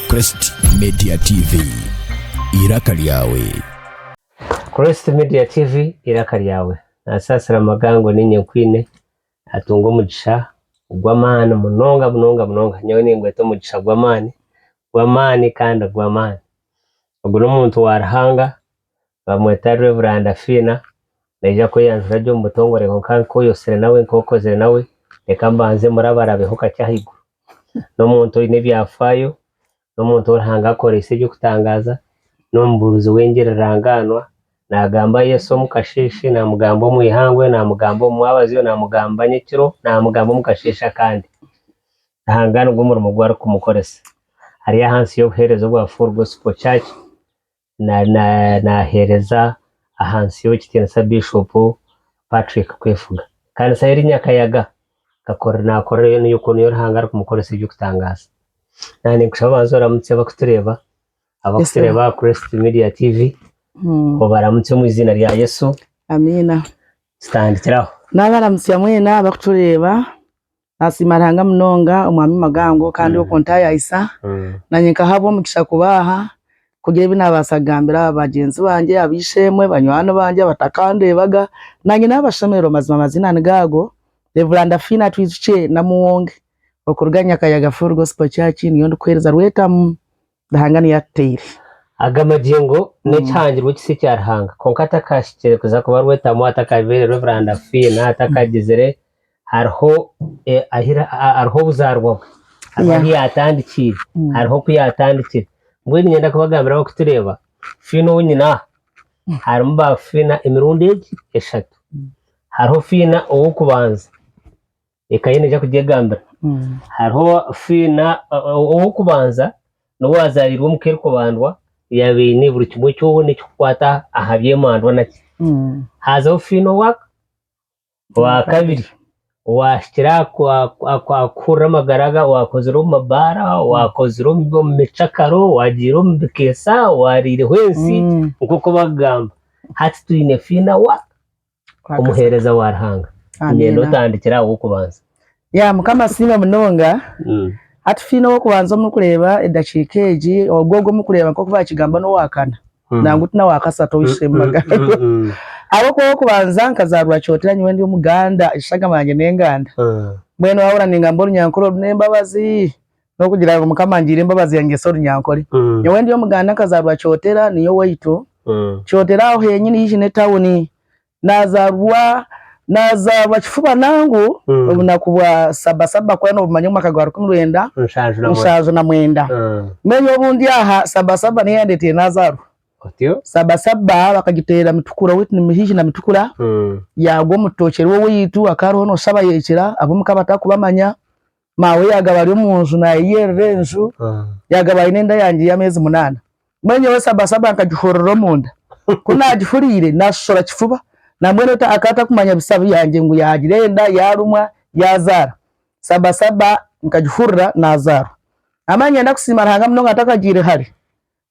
Crest Media TV, eiraka ryawe. Crest Media TV, eiraka ryawe. Nasaasira Amagango niinye nkwine, atunga omugisha ogw'amaani munonga munonga munonga. Nyowe ningweta omugisha gw'amaani gw'amaani kandi gw'amaani. Ogu n'omuntu wa Ruhanga Bamweta Rwe Buranda Fiina. Naija kweyanjura gye omu butongore kwonka nk'oyotsire nawe nk'okozire nawe, reka mbanze murabarabeho kakye ahaiguru. N'omuntu oine ebyafaayo, n'omuntu ou Ruhanga akoreise eby'okutangaaza, n'omubuurizi w'engirirangaanwa. Naagamba Yesu omu kasheeshe, naamugamba omu ihangwe, naamugamba omu mwabazyo, naamugamba nyekiro, naamugamba omu kasheeshe akandi. Ruhanga nigwo murimo ogu arikumukoresa. Ari ahansi y'obuheereza obwa Full Gospel Church, naheereza ahansi y'ekitiinisa Biishopu Patrick Kwefuga. Ekanisa y'eri Nyakayaga nakorera yoona oku niyo Ruhanga arikumukoresa eby'okutangaaza. Naaba ninkushaba obanze oramutse abarikutureeba, abarikutureeba aha Christ Media TV, obaramutse omu eiziina rya Yesu. Tutandikire aho. Nabaramutsya mwena abarikutureeba Nasiima Ruhanga munonga omwami Magango kandi okwo ntayayisa nanye nkahabwa omugisha kubaaha kugira ebi nabaasa kugambira bagyenzi bangye, ab'eishe-emwe, banywani bangye abatakandeebaga nanye nabashemererwa mazima amaziina nigo ago, Rev. Fiina Twijukye Namuwonge okuruga Nyakayaga Full Gospel Church niyo ndikuheereza Rwetamu Ruhanga niyo atutaire. Aga magingo n'ekihangirwe kisa ekya Ruhanga, kwonka atakahikire kuza kuba rwetamu, atakabaire rwebiranda fiina, atakagizire, hariho hariho obuzaarwa bwe, hariho ahu yaatandikiire, hariho oku yaatandikire. Mbwenu niinyenda kubagambira abarikutureeba, fiina ou nyine aha, harimu baafiina emirundi egi eshatu. Hariho fiina ow'okubanza, Eka ye neija kugyegambira. Hariho fiina ow'okubanza n'ou waazaariirwe omu ka erikubandwa, yaaba aine buri kimwe kyona ekikukwata aha by'emandwa naki. Haazaho fiina owa owaakabiri, owaahikire aha aha kuhurira amagara ga owaakozire omu mabaara, owaakozire omu omu micakaro, owaagiire omu bikeesa, owaariireho ensi nk'oku bakugamba. Hati twine fiina wa? Omuheereza wa Ruhanga. Niinyenda otandikire aha w'okubanza. Ya Mukama asiimwe munonga. Hati twine ow'okubanza omuri kureeba edakiika egi, ogwo ogwo muri kureeba nk'oku baakigamba n'owa kana, nangwa ti n'owa kasatu ow'eishe magara. Ahabw'okuba ow'okubanza nkazaarwa Kyotera nyowe ndi Omuganda, eshagama yangye n'Enganda. Mbwenu waahurira ningamba Orunyankore oru n'embabazi, N'okugira ngu Mukama angiire embabazi yangye Sori Nyankore. Nyowe ndi Omuganda nkazaarwa Kyotera niyo owaitu. Kyotera aho henyini haihi n'etawuni. Nazaarwa nazaarwa kifuba nangu obunaku bwa Saba Saba kukora nobumanya omu mwaka gwa rukumi rwenda mushanju na mwenda. Mbwenu nyowe obu ndi aha Saba Saba niyo eyandeeteire nazaarwa. Saba Saba bakagiteera Mitukura owaitu ni haihi na Mitukura yaagwa omu rutookye rw'owaitu hakaba hariho noshaba yekira ab'omuka batarikubamanya. Maawe yaagaba ari omu nju naayeyerera enju, yaagaba aine enda yangye y'ameezi munaana. Mbwenu nyowe sabasaba nkagihurira omunda. Ku naagihuriire, naashoshora kifuba. Nambwenu ota akaba atarikumanya bisya byangye ngu yaagira enda, yaarumwa, yaazaara. Sabasaba nkagihurira naazaarwa. Naamara ngenda kusiima Ruhanga munonga ntakagiire hare.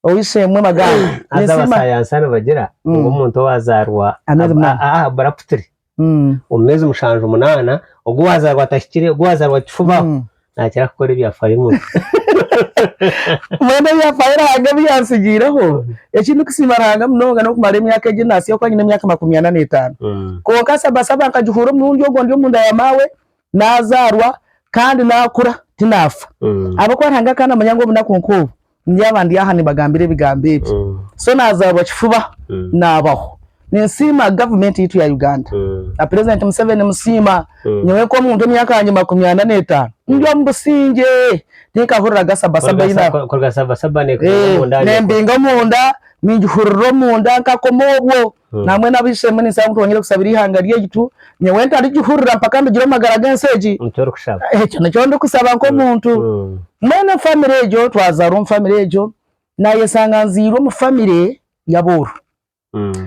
Ow'eishe-emwe Maganga Haza ninsiima. abasayansa nibagira ngu Mm. omuntu owaazaarwa Ameezi ab- munaana. a- a- buraputiri Mm. omu meezi mushanju munaana, ogwo owaazaarwa atahikire, ogwo owaazaarwa kifubaho, Mm. naakira kukora ebyafaayo muno. Mbwenu ebyafaayo Ruhanga ebi yantsigiireho, eki ndikusiima Ruhanga munonga n'okumara emyaka egi naatsya oku nyine emyaka makumi ana n'etaano. Mm. Kwonka Saba Saba nkagihuura omurundi ogwo ndi omunda ya maawe, Nazaarwa kandi nakura tinafa ahabwokuba Ruhanga akaba namanya ngu obunaku nk'obu ndyaba ndi aha nibagambira ebigambo ebi. So nazaarwa kifuba nabaho. Ninsiima government yaitu ya Uganda na president Museveni musiima. Nyowe nk'omuntu emyaka yangye makumi ana n'etaano ndi omu busingye tinkahuriraga sabasaba eyi naba Kuruga sabasaba nekubiinga omunda? Eeh nembinga omunda ningihurira omunda nkakoma obwo. Naamwe n'abaishemwe, ninsaba ngu twongere kusabira eihanga ryaitu, nyowe ntarigihurira mpaka ndugire omu magara g'ensi egi. Nikyo orikushaba? Ekyo nikyo ndikusaba nk'omuntu. Mbwenu famire egyo, twazaarwa omu famire egyo, naayeshanga nzairwe omu famire y'abooru.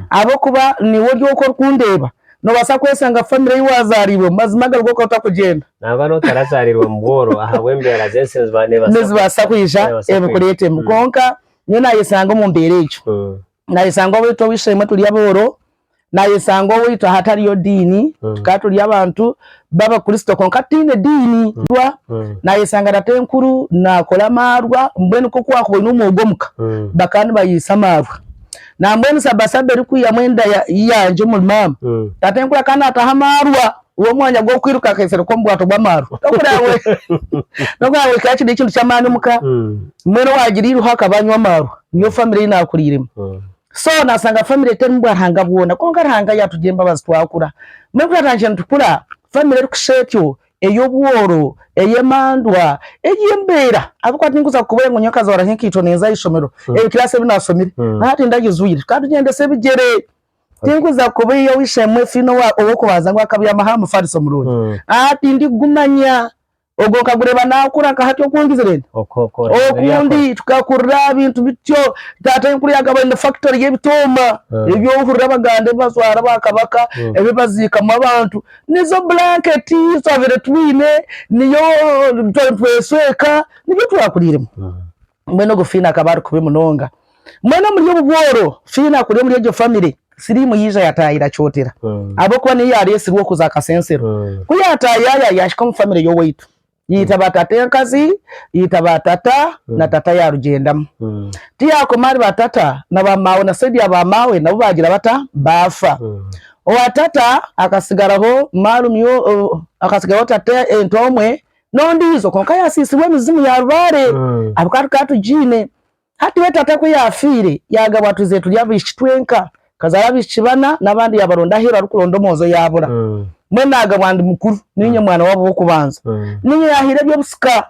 Ahabw'okuba niiwe ori oku orikundeeba, noobaasa kweshanga famire ei waazaariibwemu mazima agali g'okuba otarikugyenda. Nangwa n'obu otaraazaariirwe mu bwooro, ahabw'embeera z'ensi nizibaasa kwija ebikureetemu. Kwonka nyowe naayeshanga omu mbeera egyo. nayesanga owaitu oweishe-emwe turi abooro, nayesanga owaitu ahatariyo diini, tukaba turi abantu b'abakristo kwonka tutaine ediini, nayesanga tata enkuru nakora amaarwa, mbwenu nk'oku wakuba oyine omwogo omu ka, bakaba nibayeisa amaarwa, nambwenu saba saba erikwihamu enda yangye omuri maama, tata enkuru akaba nataho amaarwa. Guha omwanya gw'okwiruka akaiseero k'omubwato bw'amaarwa n'okuraabe n'okuraabe oikire aha kindi kintu ky'amaani omu ka. Mbwenu waagira eiruho akaba anywa amaarwa, niyo famire ei naakuriiremu. So naashanga famire terimu bwa Ruhanga bwona. Kwonka Ruhanga yaatugira embabazi twakura. Mbwenu ku twatandikire nitukura, famire erikushusha etyo, ey'obworo, ey'emandwa, ey'embeera ahabw'okuba tinkuza kukubwire ngu nyowe nkazooraho enkaito ninza aha ishomero, ebikiraasi ebi naashomire. Hati ndagizwire. Tukaba tugyendesa ebigyere. Tinkuza kuba eyoishe-emwe efa eine ow'okubanza ngu akabyamaho aha mufariso omurungi. Aa, tindigumanya. Ogwo nkagureeba naakura nka hati oku ngizire ndi. Okundi tukakurira aha bintu bityo. Taata aine kureeba akaba aine fakitori y'ebitooma ebi ohurira abaganda ebi bajwara ba kabaka, ebi baziikamu abantu. Nizo bulanketi ezi twabaire twine, niyo tweshweka, nibyo twakuriiremu. Mbwenu ogwo Fiina akaba ari kubi munonga. Mbwenu omuri obwo bworo Fiina kuri omuri egyo famire, siriimu yaija yataayire akyotera ahabw'okuba niyo yaareetsirwe okuza aha kasensero. Ku yaataayaaya yaahika omu famire y'owaitu, yaita baatata enkazi, yaita baatata na tata yaarugyendamu. Ku yaakoma ahari baatata na baamaawe na saidi ya baamaawe nabo baagira bata? Baafa. Owa tata akasigaraho maarumyo, akasigaraho tata entwe omwe n'ondiijo kwonka yaasiisirwe emizimu ya lubaare ahabw'okuba tukaba tugiine. Hati we taata ku yaafiire, yaagabwa twizire turi abaishiki twenka. Nkazaara abaishiki bana n'abandi yaabaronda aheeru arikuronda omwojo yaabura. Mbwenu naagabwa ndi mukuru, niinye mwana waabo w'okubanza. Niinye yaahaire eby'obusika.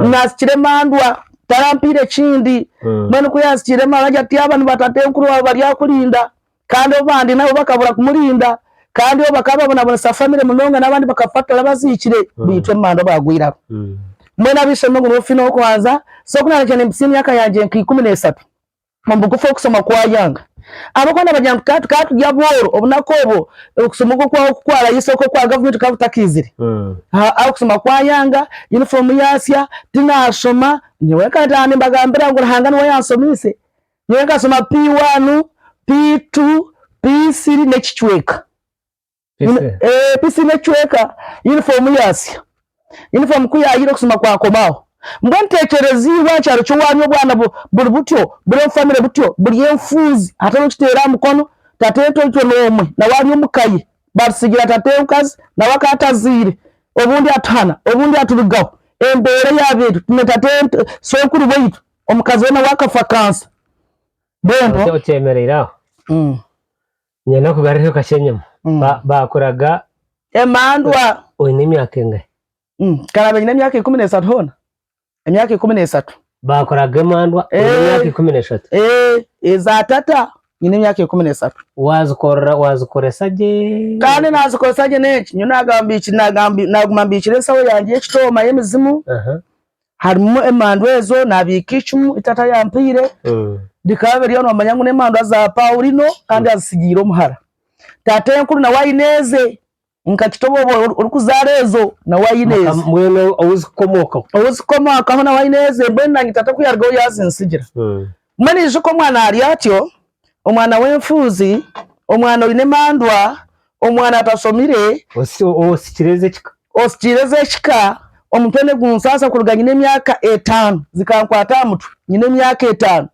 Naasikire emandwa, tarampaire kindi. Mbwenu ku yaasikire emandwa agira ati, Aba nibataatenkuru baawe bari aha kurinda. kandi abandi nabo bakabura kumurinda kandi obu bakaba babonabonesa famire munonga n'abandi bakafa tora baziikire mm. baitu emanda bagwiraho mm. mbwenu abaishombe ngu nofina okubanza so kunanakira nimpisa emyaka yangye nka ikumi n'esatu omubugufu okusoma kwayanga abakuba nabagira ngu taata tukaba turi abooro obunaku obwo okusoma okwo kwaho kukwarayo isoko okwa gavumenti kukaba kutakiizire mm. okusoma kwayanga yunifoomu yaasya tinashoma nyowe nkataha nimbagambira ngu ruhanga niwe yansomiise Nyowe nkashoma P1, P2, P3 n'ekicweka. P3 n'ekicweka yunifoomu yaasya. Yunifoomu ku yaayeire okusoma kwakomaho. Mbwenu teekyereza iwe aha kyaro ky'owaanyu obu obwana buri butyo, buri omu famire butyo, buri enfuuzi, hatariho okiteera aha mukono, tata entoito n'omwe nawe ari omu ka ye, baatutsigira tata omukazi nawe akaba atazaire, obundi atuhana, obundi aturugaho. Embeera eyaaba eri, twine tata, sookuru waitu Omukazi we nawe akafa kansa. Mbwenu. Okye okyemereire aho. Mm. Niinyenda kugarureho kakye enyima. Mm. Ba- Baakuraga Emandwa. oine emyaka engahi? Mm. Nkaraaba nyine emyaka ikumi n'esatu hoona. Emyaka ikumi n'esatu. Baakuraga emandwa oine Eh. emyaka ikumi n'eshatu. Eh, eza tata nyine emyaka ikumi n'esatu. Waazikorera waazikoresa gye. Kandi naazikoresa gye n'enki? Nyowe naagamba mbiki- naagamba- naaguma mbikire ensaho yangye y'ekitooma y'emizimu. Aha. Harimu emandu ezo nabiika icumu ezi tata yampaire bikaba biriyo nomanya ngu nemandu za Paulino kandi azitsigiire omuhara. Tatenkuru nawe aine eze nkakita obu oba orikuzaara ezo nawe aine eze. Mbwenu owu zikukomokaho? Owu zikukomokaho nawe aine eze mbwenu nanye tata oku yarugaho yazintsigira. Guma naijuka omwana ari atyo, omwana w'enfuuzi, omwana oine emandwa, omwana atashomire, osikiireza ekika. Osikiireza ekika, omutwe nigunsasa kuruga nyine emyaka etaano, zikankwata aha mutwe nyine emyaka etaano,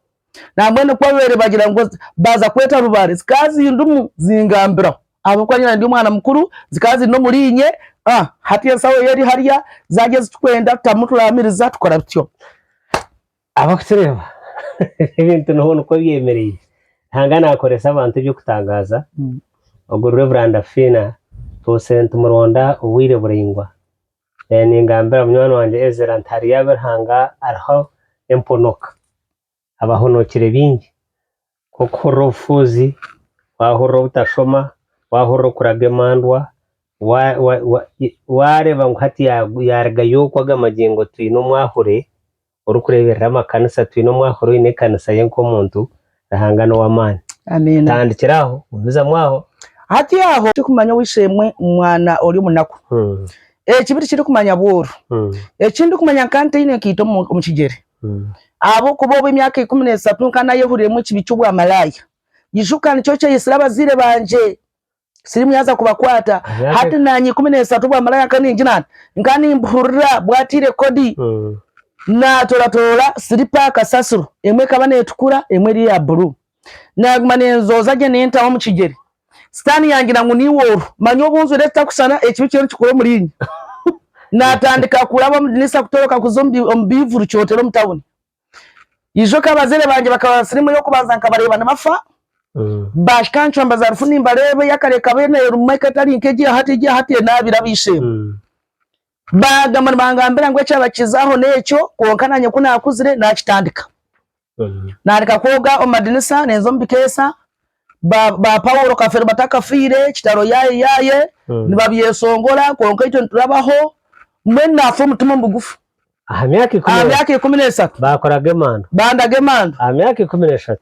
nambwenu ku babaire bagira ngu baaza kweta rubare zikaba zindimu zingambiraho ahabw'okuba nyine ndi omwana mukuru, zikaba ziri n'omuriinye, hati enshoho yo eri hariya, zaarya ezi turikwenda tutamu turaamiriza tukora bityo. Abarikutureeba, ebintu niho nikwo byemereire. Ruhanga naakoresa abantu eby'okutangaaza. Ogwo Rev. Fiina ntuuse ntimuronda obwire buraingwa. Ningambira munywani wangye Ezra nti hariyo abu Ruhanga ariho emponoka. Abahonokire baingi. nk'okuhurira obufuuzi, waahurira obutashoma, waahurira okuraga emandwa, waareeba ngu hati yaarugayo okwo aga magingo twine omwahure orikureeberera amakanisa, twine omwahure oine ekanisa ye nk'omuntu, Ruhanga n'ow'amaani. Tandikira aho, gumizamu aho. Hati aho turikumanya obu eishe-emwe omwana ori omunaku ekibi tikirikumanya bwooro. Eki ndikumanya nka ntaine nkaita omu kigyere. Ahabw'okuba obu emyaka ikumi n'esatu nka nayehuriiremu ekibi ky'obwamalaaya, ijuka nikyo kyaitsire abazaire bangye siriimu yaaza kubakwata. Hati naanye ikumi n'esatu obwamalaaya nka ningira nti nka nimbuhurira bwataire kodi. Naatoratoora siripa kasasiro, emwe ekaba neetukura emwe eri eya buruu. Naaguma neenzooza gye neentaho omu kigyere. Sitaani yaagira ngu niiwe oru. Manya obu njwire ekitakushushana, ekibi kiriyo nikikora omuriinye. Naatandika kuraba omu diniisa kutoroka kuza omu biivuri kyotera omu tauni. Ijoka abazaire bangye bakaba ba firimu ey'okubanza nkabareeba nibafa. Baahika ncwamba za rufu nimbareeba, eyakare ekaba eine erimu eka etari nk'egi ya hati, egi ya hati enaabire ab'eishe-emwe. Baagamba nibangambira ngu ekyabakizaaho n'ekyo, kwonka naanye ku naakuzire naakitandika. Naandika kwoga omu madinisa, ninza omu bikeesa, ba ba Paulo Kafeero batakafiire, kitaro yaaye yaaye, nibabyesongora, kwonka itwe niturabaho. Mbwenu naafa omutima omugufu. Aha myaka ikumi n'esatu. Aha myaka ikumi n'esatu. Baakoraga emanda. Bandaga emanda. Aha myaka ikumi n'eshatu.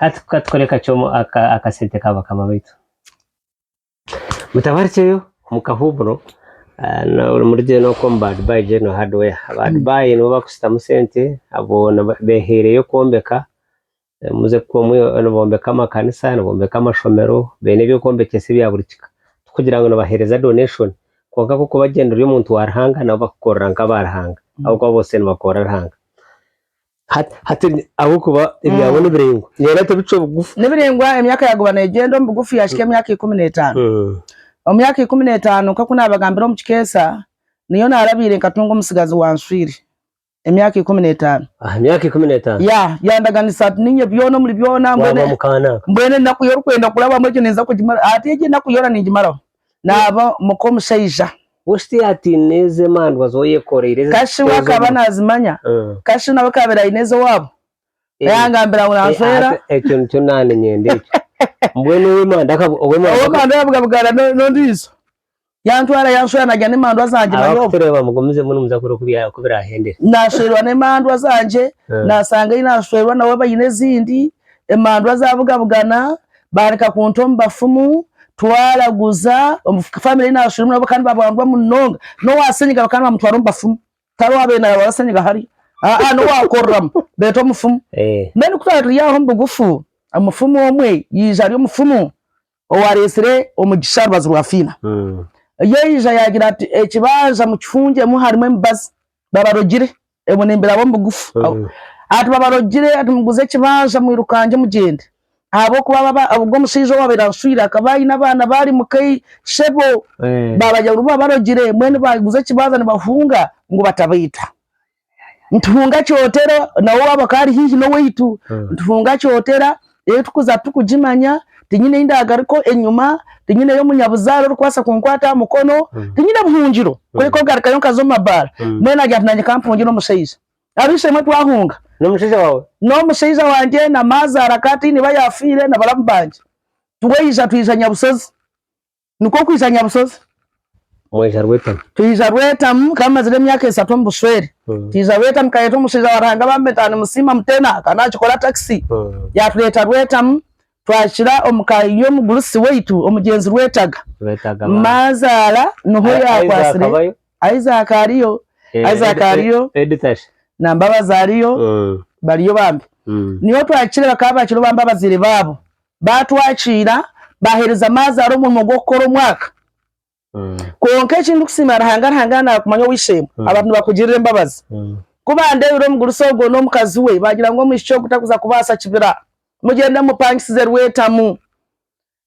Hati ka tukore kakye omu akasente ka bakama baitu. Mutabarukyeyo omu kahuumuro omuri gye n'oku omu ba Dubai General Hardware. Aba Dubai nibo bakushutamu sente abo beehaireyo kwombeka. Muze kukora nibombeka amakanisa, nibombeka amashomero, baine eby'okwombekyesa ebya buri kika. Tikugira ngu nibaheereza donation kwonka ku orikubagyenda ori omuntu wa Ruhanga nabo bakukorera nk'aba Ruhanga ahabw'okuba boona nibakorera Ruhanga. Hati, hati ni- ahabw'okuba ebyabo nibiraingwa, nihenda ati bicwa bugufu. Nibiraingwa, emyaka yaaguba neegyenda omu bugufu yaahika emyaka ikumi n'etaano. Mm. Omu myaka ikumi n'etaano, nk'oku naabagambire omu kikeesa, niyo naarabaire nkatunga omutsigazi wanswire. Emyaka ikumi n'etaano. Aha myaka ikumi n'etaano Ya, yandaganisa ati niinye byona omuri byona, mbwenu, waaba mukaanaka. mbwenu enaku y'orikwenda kurabamu egyo ninza kugimaraho. Hati egi enaku yoona ningimaraho. naaba muka omushaija. Hosi tihaine ataine eze emandwa zooba oyekoreire eze Kashi we ez'omu- akaba nazimanya? Eh. Kashi nawe akaabire aine ez'owaabo? Eh. Yangambira ngu Eh, nanshwera. ate ekyo nikyo naane nyenda ekyo mbwenu ow'emanda akab- ow'emanda akab- Ow'emandwa yabugabugana no- n'ondiijo. Yantwara yanshwera nagira n'emandwa zangye manyoobwa. abakutureba mugumizemu nimuza kureeba oku bya- oku biraahendera Nashwerwa n'emandwa zangye, Eh. nasanga ei nashwerwa nabo baine ezindi, emandwa zabugabugana, Baareka kunta omu bafumu, twaraguza, omu famire ei naashwiremu nabo kandi babwangwa munonga. N'owa senyiga bakaba nibamutwara omu bafumu. Tihariho waabaire naarwara senyiga hare. Aa, n'owaakoreramu, beeta omufumu. Mbwenu ku twaba turi aho omu bugufu, omufumu omwe yaija ari omufumu owaareetsire omugisha aha rubaju rwa Fiina. Yaija yaagira ati, Ekibanja mukifungiremu harimu emibazi. Babarogire. Ebwe nembiraba omu bugufu ati babarogire ati muguze ekibanja mwirukangye mugyende ahabwokuba ogwo omushaija owabaire anshwire akaba aine abaana baari muka ishebo babarya ngu babarogire mbwenu baguza ekibanja nibahunga ngu batabaita nituhunga kyotera nawe owabo akaba ari haihi nowaitu nituhunga kyotera ei turikuza turikugimanya, tinyine ei ndaagaruka enyima, tinyineyo munyabuzaare orikubaasa kunkwata aha mukono, tinyine buhungiro, kureka kugarukayo nkaza omu mabaara, mbwenu naagira nti naanye ka mpungire omushaija. Ab'eishe-emwe twahunga. N'omushaija waawe? N'omushaija wangye, na maazaara ka ataine ba yaafiire, na baramu bangye. Twija twija Nyabushozi. nikwo kwija nyabusozi. Mwija rwetamu. Twija rwetamu kandi mazire emyaka esatu omu bushwere. Mm. Twija rwetamu kayeta omushaija wa Ruhanga bambe ntaha nimusiima mutena kandi akikora takisi. Mm. Yatuleta rwetamu twakira omu ka y'omugurusi waitu omugyenzi Rwetaga. Rwetaga bambi. Mazaara niho Ai- Isaac yakwasire. abayo? Isaac ariyo, Eh, Isaac Ed- ariyo. Ed- Edith Ashe. na Mbabazi ariyo, Mm. bariyo bambi. Mm. Niho twakire bakaba bakiriho bambe abazaire baabo. baatwakiira, baaheereza Maazaara omurimo gw'okukora omwaka. Kwonka eki ndikusiimira Ruhanga, Ruhanga yaanaara kumanya ow'eishe-emwe, abantu nibakugirira embabazi. Ku baandeebire omugurusi ogwo n'omukazi we, baagira ngu omwishiki ogu tarikuza kubaasa kibira. Mugyende mumupangisize rwetamu,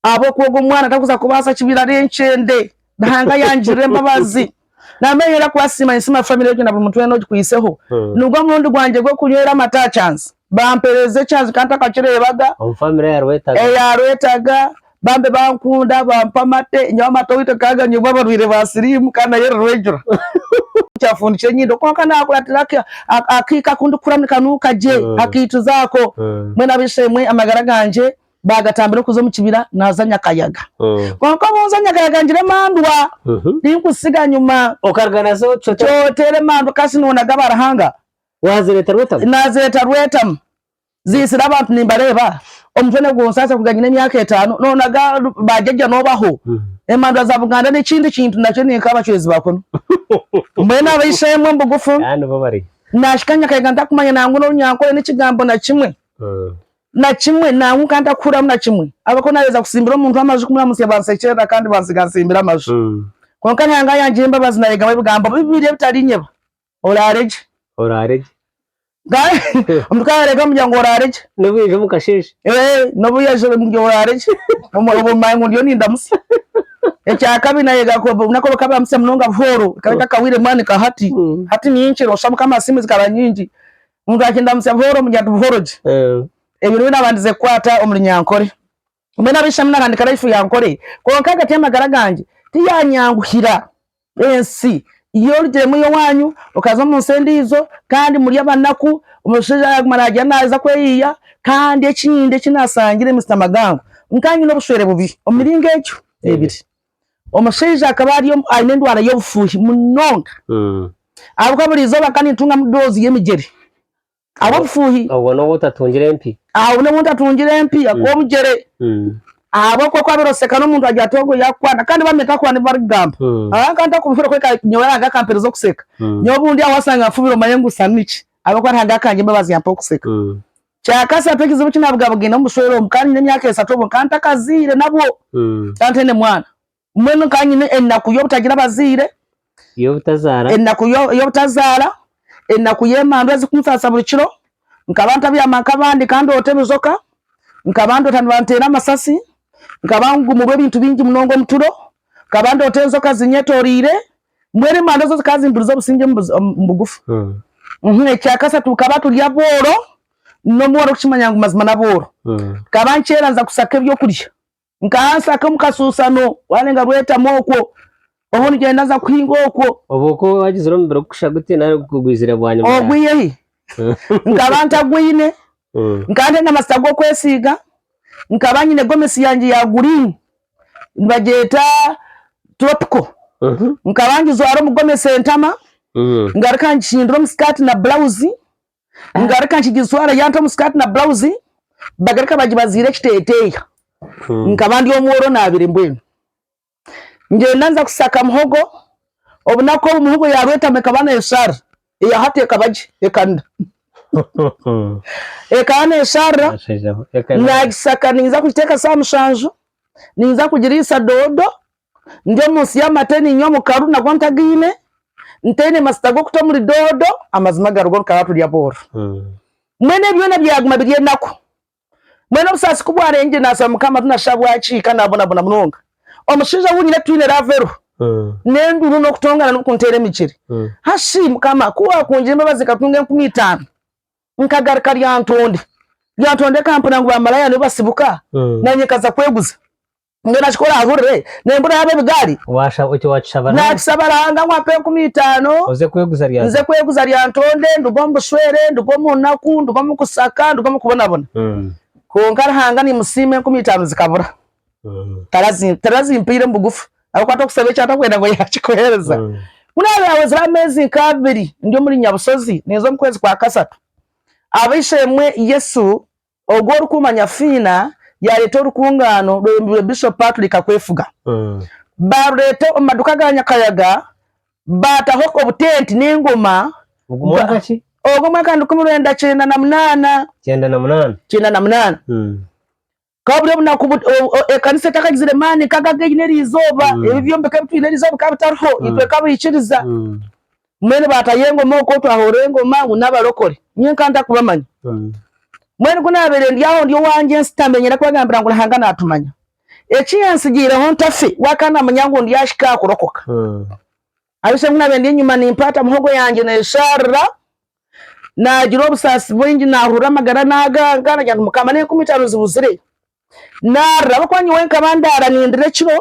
ahabw'okuba ogwo mwana tarikuza kubaasa kibira ari enkyende. Ruhanga yangirira embabazi namenyera kubasiima ninsiima family egyo na buri muntu weena ogikwiitseho nigwo murundi gwangye gw'okunywera amata aha kyanzi bampereeza ekyanzi kandi ntakakireebaga eyarwetaga bambi bankunda bampa amate nyowe amata oweitu tukaba tuganywibwa abarwaire ba siriimu kandi nayo eri regular nkyafundikire enyindo kwonka nakuratira akaika akundikukuramu nikanuuka gye akaituzi ako mbwenu ab'eishe-emwe amagara gangye. bagatambira okuza omu kibira naaza Nyakayaga. Kwonka obu nza Nyakayaga ngira emandwa, tinkuzitsiga nyima. Okaruga nazo Kyotera emandwa kasi noonaga ba Ruhanga? Waazireeta Rwetamu? Naazireeta Rwetamu. Ziitsire abantu nimbareeba. Omutwe nigunsasa kuruga nyine emyaka etaano. Noonaga ba jajja noobaho? Emandwa za Buganda n'ekindi kintu nakyo ninka abacwezi ba kunu. Mbwenu abaishe-emwe omu bugufu, naahika Nyakayaga ntakumanya nangwa n'orunyankore n'ekigambo na kimwe. Na kimwe, nangwa nka ntakuhuriramu na kimwe. Ahabw'okuba naaheeza kutsimbira omuntu amaju kumuramutsya baansekyerera kandi bantsiga ntsimbire amaju. Kwonka Ruhanga yangira embabazi naayegamu ebigambo bibiri ebitariinyeba, Oraare gye. Oraare gye. Omuntu ku araareega bamubwira ngu oraare gye. N'obu yaija omu kasheeshe. Ee, n'obu yaija bamubwira ngu oraare gye. Obwo bumanya ngu ndiyo nindamutsya. Ekya kabiri naayega ku obunaku obu bakaba nibamutsya munonga buhooro, ekaba etakahwaire mwani nka hati. Hati ni nkiro, osha Mukama asiimwe zikaba nyingi. Omuntu akindamutsya buhoro omu Nyadu Buhoro gye. Ebyo nibyo naabandize kukwata omuri Nyankore. Mbwenu ab'eishami naahandika Laifu ya Nkore, kwonka ahagati y'amagara gangye tiyaanyanguhira. Ensi yo orugiremu y'owaanyu, okaza omu nsi endiijo kandi muri abanaku. Omushaija yaaguma naagira naaza kweyiya. Kandi ekindi eki naashangire, Mister Magango, nkaba nyine obushwere bubi omu miringo egyo ebiri. Omushaija akaba ari aine endwara y'obufuuhi munonga ahabw'okuba buri izooba akaba naitungamu doozi y'emigyere ahabw'obufuuhi. Obwo n'obu otatungire empi? Aho n'obu ntatungire empi ahabw'omugyere. Ahabw'okuba ku waabaire oseka n'omuntu agira ati ogwo yaakukwana kandi bamwe nkahurira ngu barikugamba. Ahaa nkaba ntakubihurira kwonka nyowe Ruhanga akampeereza okuseka. Nyowe obundi aho waasanga nfubire omanye ngu sa niki ahabw'okuba Ruhanga akangira embabazi yampa okuseka. Kyakasatu ekizibu ki nabugabugaine omu bushwere obu, nkaba nyine emyaka esatu obwo nkaba ntakazaire nabwo, nkaba ntaine mwana. Mbwenu nkaba nyine enaku y'obutagira abazaire, enaku y'obutazaara, enaku y'emandu ezikunsasa buri kiro, nkaba ntabyama nk'abandi ka ndoota ebizoka, nkaba ndoota nibanteera amasasi, nkaba ngumurwa ebintu bingi munonga omu turo, nkaba ndoota enzoka zinyetoreire. Mbwenu emanda ezo zikaba zimburize obusingye omu bugufa. Ekya kasatu bukaba turi abooro, n'obu orikukimanya ngu mazima n'abooro. Nkaba nkyera nza kusaka eby'okurya. Nkaba nsaka omu kasuusano, waarenga Rwetamu okwo, obu nigyenda nza kuhinga okwo. Obwo okwo waagizire omubiri kukusha guti nari gugwizire bwanyima yaawe? Ogwire hi! Nkaba ntagwine. Nkaba ntaine amajuta g'okwesiiga. Nkaba nyine gomesi yangye ya guriini. nibagyeta tropical nkaba ngijwara omu gomesi entama ngaruka ngihindura omu sikati na burawuzi ngaruka nkigijwara yaaruga omu sikati na burawuzi bagaruka bagibaziira ekiteteeya nkaba ndi omworo naabire mbwenu ngyenda nza kushaka muhogo obunaku obu muhogo yaarwetama ekaba neeshara. Eya hati ekaba gye ekanda. Ekaba neesharira naagisaka ninza kugiteeka saaha mushanju, ninza kugiriisa doodo, ndi omu nsi y'amate niinywa omukaru nagwo ntagiine, ntaine masita g'okuta omuri doodo, amazima garuga oru ka turya bwooro. Mbwenu ebyo byona byaguma biri enaku. Mbwenu obusaasi ku bwarengire naasaba Mukama tinashuusha bwaki kandi naabonabona munonga. Omushaija ou nyine twine raava eriho n'enduuru n'okutongana n'okunteera emigyere. Ha shi, Mukama, ku waakungire embabazi nkatunga enkumi itaano, nkagaruka ryantonde, ryantonde ekampurira ngu baamalaaya nibo basibuka, naanye nkaza kweguza? Mbwenu nakikora aha hurire nembura yaaba ebigaari. Waashaba oti waakishaba naawe. Naakisaba Ruhanga ngu ampe enkumi itaano Oze kweguza rya nze kweguza rya ntonde nduge omu bushwere, nduge omu naku, nduge omu kusaka, nduge omu kubonabona. Kwonka Ruhanga nimusiima enkumi itaano zikabura. Tarazi tarazimpaire omu bugufu ahabw'okuba tokusaba eki atakwenda ngu yaakikuheereza. Mbwenu haaba haahwezire ameezi nk'abiri ndi omuri Nyabushozi ninza omu kwezi kwa kasatu, ab'eishe-emwe Yesu Ogwo Orikuumanya Fiina yaareeta orukungaano rweyombirwe Bishop Patrick Kakwefuga. Baarureeta omu maduuka ga Nyakayaga baataho obutenti n'engoma. Ogwo mwaka ki? Ogwo mwaka nirukumi rwenda kyenda na munaana. Kyenda na munaana. Kyenda na munaana. Bukaba buri obunaku ekanisa etakagizire maani nk'ago aga eine eri izooba. Ebi byombeko ebi twine eri izooba bikaba bitariho, itwe nk'abaikiriza. Mbwenu baatayo engoma okwo twahorora engoma ngu n'abarokore. Nyowe nka ntarikubamanya. Mbwenu ku naabaire ndi aho ndi owangye nshutami niinyenda kubagambira ngu Ruhanga naatumanya. Eki yantsigiireho ntafe waakaba naamanya ngu ndyahika aha kurokoka. Ahabiishe ku naabaire ndi enyima nimpaata muhogo yangye neeshaarira, naagira obusaasi bwingi naahurura amagara naaganga, naagira nti Mukama n'enkumi itaano zibuzire. Naarira ahabw'okuba nyowe nkaba ndaara nindira ekiro,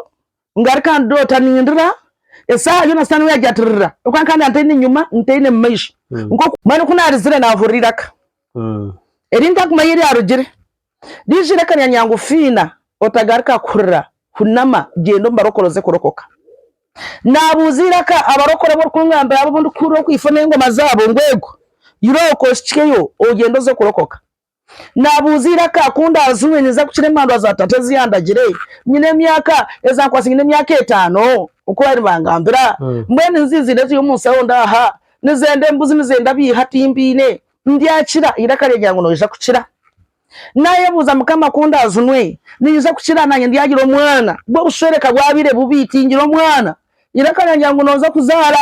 ngaruka ndoota nindira, esaaha yoona sitaane we yaagira ati rira ahabw'okuba nkaba ndaba ntaine nyima ntaine mu maisho. Mbwenu ku naarizire naahurira eiraka eri ntarikumanya ei ryarugire. Riija eiraka nirangira ngu, Fiina, otagaruka kurira, hunama, gyenda omu barokore oze kurokoka. Naabuuza eiraka abarokore abu orikungambira abo abu ndikuhurira oku ifo n'engoma zaabo ngu, Ego, irooko, ohikyeyo, ogyende oze kurokoka. Naabuuza eiraka ku ndaaziwe ninza kukira emandwa za tata ezi yandagire. Nyine emyaka, eza nkwatsire nyine emyaka etaano oku baabaire bangambira. Mbwenu niza eiziina eziri omu nshaho ndaaha. Nizenda embuzi, nizenda abiiha timbiine. Ndyakira, eiraka ryagira ngu noija kukira. Naayebuuza Mukama ku ndaazinwe ninyija kukira naanye ndyagira omwana. Bwo obushweere ka bwabaire bubi, tingira omwana. Eiraka ryagira ngu noija kuzaara.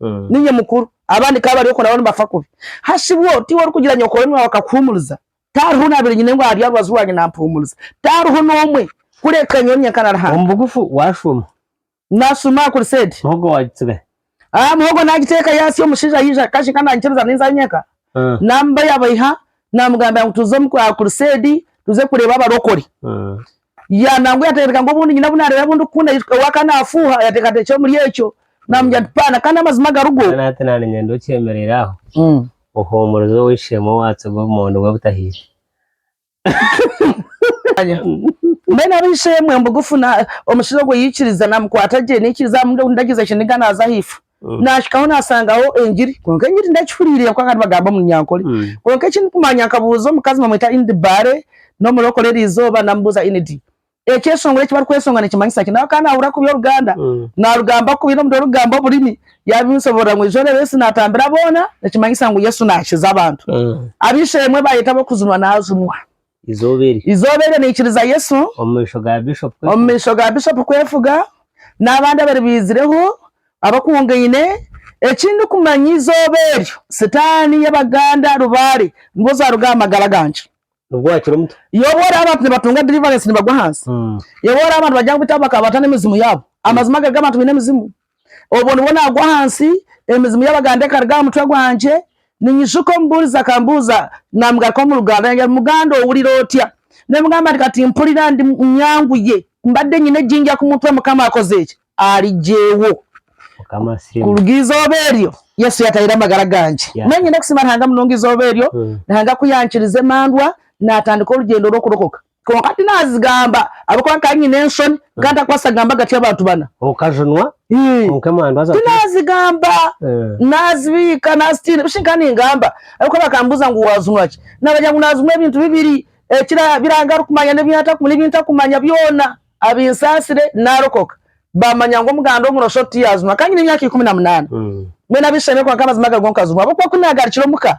Niinye mukuru, abandi ka bari okwo nabo nibafa kubi. Hashibwo tiwe orikugira nyokorome waawe akakuhuumuriza? Tihariho onaabire nyine ngu ari aha rubaju rwangye naampuumuriza? Tihariho n'omwe, kureka nyowe nyenka na Ruhanga. Omu bugufu waashuma. Naashuma aha kuruseedi. Muhogo waagitsigayo. Aa, muhogo naagiteeka yaasi, omushaija yaija akaje ka naanyikiriza ninza nyenka, naamubaiha baiha, naamugambira ngu tuze aha kuruseedi tuze kureeba abarokore. Yaaha nangwa yateekateeka ngu obundi nyine obu naareeba obu ndikukunda Yesu kuhika obu akaba naafuuha, yateekateeka ekiro omuri ekyo naamugira ati, Paana, kandi amazima garigo. Mbwenu hati naanye niinyenda okyemereire aho ohuumurize ow'eishe-emwe owaatsirwe obumondo bwe butahiire. Mbwenu ab'eishe-emwe bugufu, omushaija ogwo yaikiriza, naamukwata gye, naikiriza, amuha endagizo, aishe niga naaza aha ifo. Naahikaho naasangaho engiri kwonka engiri ndagihuriire ahabw'okuba bakaba nibagamba omu Runyankore. Kwonka eki ndikumanya nkabuuza omukazi nibamweta Inid Bare, n'omurokore eriizooba namubuuza Inid, ekyeshongoro eki barikweshonga nikimanyisa ki? Nawe akaba naahurira kubi Oruganda, naarugamba kubi n'omuringo orikugamba oburimi. Yaabinsoborora ngu eizooba Yesu naatambira boona nikimanyisa ngu Yesu naakiza abantu. Ab'eishe-emwe baayeta ab'okujunwa naajunwa. Eizooba eryo. Eizooba eryo naikiriza Yesu. Omu maisho ga Bishop kwefuga. Omu maisho ga Bishop kwefuga n'abandi abari baizireho abakungaine. Ekindikumanya eizooba eryo sitaani y'Abaganda Rubare nibo zaaruga aha magara gangye. Nibwo wakira omutwe? Yobu oraaba abantu nibatunga deliverance nibagwa ahansi. Yobu oraaba abantu bagya ngu beitu abo bakaba bata n'emizimu yaabo. Amazima ago ag'abantu baine emizimu. Obwo nibwo naagwa ahansi, emizimu y'Abaganda ekaruga aha mutwe gwangye. Ninyijjuka omubuurizi akambuuza naamugarukaho omu Luganda, yangire ati, Muganda owulira otya? Naamugamba nti, Kati mpulira ndi nyanguye, mbadde nyine egi ndya ku mutwe, Mukama akoze ki? Arigyeiwo. Kuruga eizooba eryo, Yesu yaatahiire amagara gangye. Mbwenu nyine kusiima Ruhanga munonga eizooba eryo, Ruhanga ku yankirize emandwa naatandika orugyendo rw'okurokoka. Kwonka tinazigamba ahabw'okuba nkaba nyine enshoni nkaba ntarikubaasa kugamba agati y'abantu bana. Okajunwa kwonka emandwa zaawe tiziriho. Tinazigamba, nazibiika, nazitiina. Bishi nkaba ningamba ahabw'okuba bakambuuza ngu waajunwa ki? Naabagira ngu naajunwa ebintu bibiri, ebi Ruhanga arikumanya n'ebi ntakumanya byona abinsaasire naarokoka. Baamanya ngu omuganda omuroshooto tiyaajunwa. Nkaba nyine emyaka ikumi na munaana. Mbwenu ab'eishe-emere kwonka amazima garigo nkajunwa ahabw'okuba ku naagarukire omuka,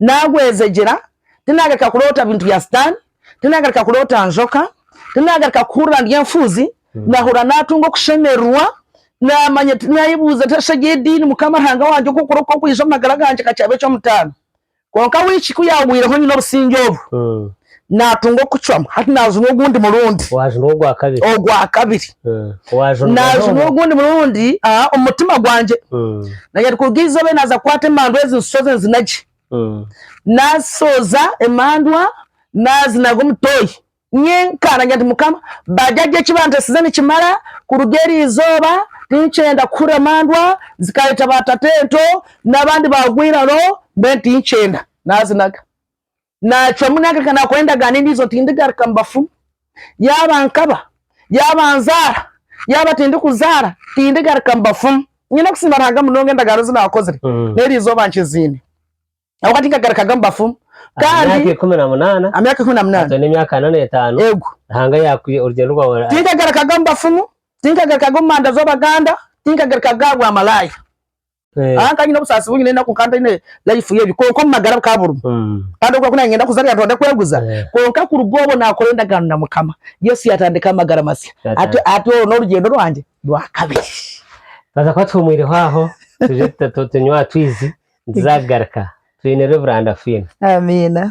Naagwezegyera, tinaagarika kuroota bintu bya Sitaane, tinaagarika kuroota njoka, tinaagarika kuhurira ndi enfuuzi, naahurira naatunga okushemererwa, naamanya tinaayebuuza nari shegye ediini Mukama Ruhanga wangye oku orikureeba kwija omu magara gangye ka kyaba eky'omutaano. Kwonka wiiki ku yaagwireho nyine obusingye obu, Naatunga okucwamu, hati naajunwa ogundi murundi. Waajunwa ogwa kabiri. Ogwa kabiri. Waajunwa n'omwe. Naajunwa ogundi murundi omu mutima gwangye. Naanye arikuruga eizooba naaza kukwata emandwa ezi nsoze nzina gye. Naasooza emandwa naazinaga omu toyi nyenka. Naagira nti, Mukama, bajaajo eki banteesize nikimara. Kuruga eri izooba tinkyenda kuhurira mandwa zikaayeta baatata ento n'abandi baagwa eiraro, mbwenu tinkyenda. Naazinaga. Naacwamu naagaruka naakora endagaano endiijo nti, Tindigaruka mu bafumu. Yaaba nkaba, yaaba nzaara, yaaba tindikuzaara, tindigaruka mu bafumu. Nyine kusiima Ruhanga munonga endagaano ezi naakozire n'eri izooba nkiziine. Ahabw'okuba tinkagarukaga mu bafumu. Kandi. Emyaka ikumi na munaana. Emyaka ikumi na munaana. Hati oine emyaka ana n'etaano. Eego. Ruhanga yaakwiha orugyendo rwawe. Tinkagarukaga mu bafumu, tinkagarukaga omu manda z'Abaganda, tinkagarukaga aha bwamalaaya. Eh. Ah, nkanyine obusaasi bungi n'enaku nkaba ntaine life y'ebi kwonka omu magara bukaba burimu Mm. kandi obu nkaba ningenda kuza nitwenda kweguza Eh. kwonka kuruga obwo nakora endagaano na mukama yesu yatandika amagara masya Yatandika. Ati- ati oru n'orugyendo rwangye rwakabiri Twaza kuba tuhumwireho aho tuje tuta- tu- tunywa twizi nituza kugaruka twineho ebirandafiina amiina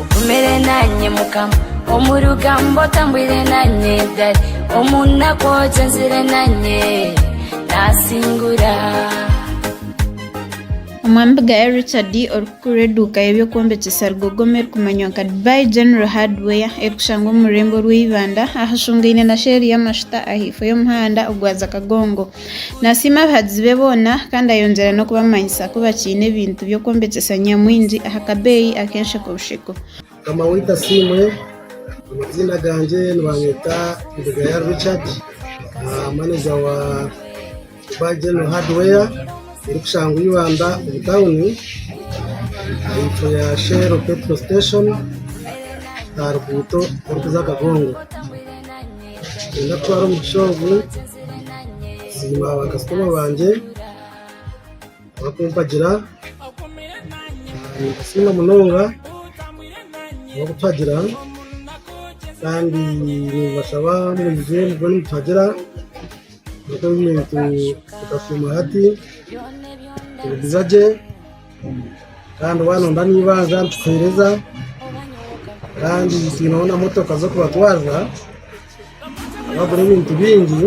Ogumire nanye mukama omu rugambo otambwire nanye dadi omu naku ogyenzire nanye nasingura Omwami Bugaya Richard orikukurira eduuka y'eby'okwombekyesa Rugogoma erikumanywa nka Dubai General Hardware erikushangwa omu rurembo rw'eibanda ahashungaine na sheeri y'amashuta ahaifo y'omuhanda ogwaza Kagongo. Naasiima abahagizi be boona kandi ayongyera n'okubamanyisa ku bakiine ebintu by'okwombekyesa Nyamwingi aha kabeeyi ak'ensheko busheko. Mukama waitu asiimwe, amaziina gangye nibanyeeta Ndugayari Richard, maneja wa Dubai General Hardware erikushangwa Ibanda omu tauni ahaifo ya Shell Petrol Station aha ruguuto orikuza Kagongo. Niinyenda kutwara omugisha ogu kusiima baakasitoma bangye abarikumpagira. Nimbasiima munonga abarikutuhagira kandi nimbashaba mwije mube nimutuhagira ebintu bikashuuma hati, tubiguza gye. Kandi waaba nooyenda n'eibanja nitukuheereza kandi twineho na motoka z'okubatwariza twagura ebintu bingi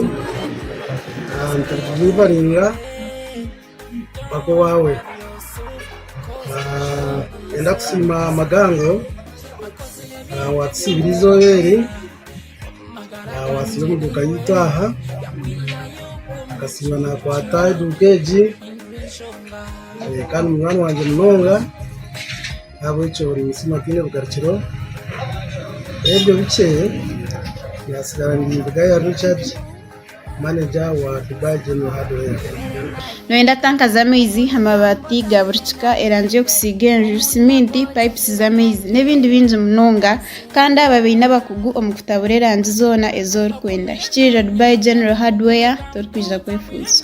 nitukudirivaringa mpaka owaawe. Twenda kusiima Magango waatusiibira eizooba eri. Naabatsire omu duuka yaitu aha, akasiiba naakwata eduuka egi, kandi munywani wangye munonga, ahabw'ekyo buri mutsima tihaine bugarukiro, n'ebyo bikye, naatsigara nindigayo aha Richard. Noyenda tanka z'amaizi, amabaati ga buri kika, erangi y'okusiiga enju, siminti, pipes z'amaizi n'ebindi bingi munonga kandi aba baine abakugu omu kutabura erangi zoona ezi orikwenda. Hikiirira Dubai General Hardware torikwija kwefuuza.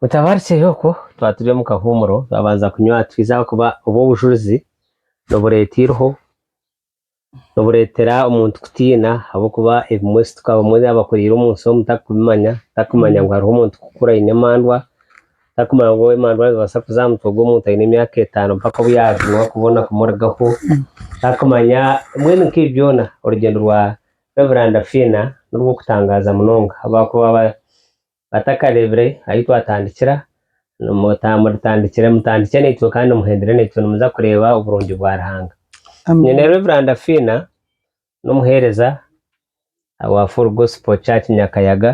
Mutabaare kiri okwo twaba turi omu kahuumuro twabanza kunywa twiza ahakuba obwo obujurizi nibureeta eiriho, nibureetera omuntu kutiina ahabw'okuba ebimwe situka abamwe abakuriire omu nsi omu tarikubimanya, tarikumanya ngu hariho omuntu kukura aine emandwa, tarikumanya ngu emandwa nizibaasa kuza aha mutwe gw'omuntu aine emyaka etaano mpaka obu yaajumwa kubona kumurugaho, tarikumanya mbwenu nk'ebi byona orugyendo rwa Reveranda Fiina n'orw'okutangaaza munonga ahabw'okuba batakareebire ahu twatandikira, mutandikire mutandikye naitwe kandi muhendere naitwe nimuza kureeba oburungi bwa Ruhanga. Nyine Reveranda Fiina n'omuheereza owa Full Gospel Church Nyakayaga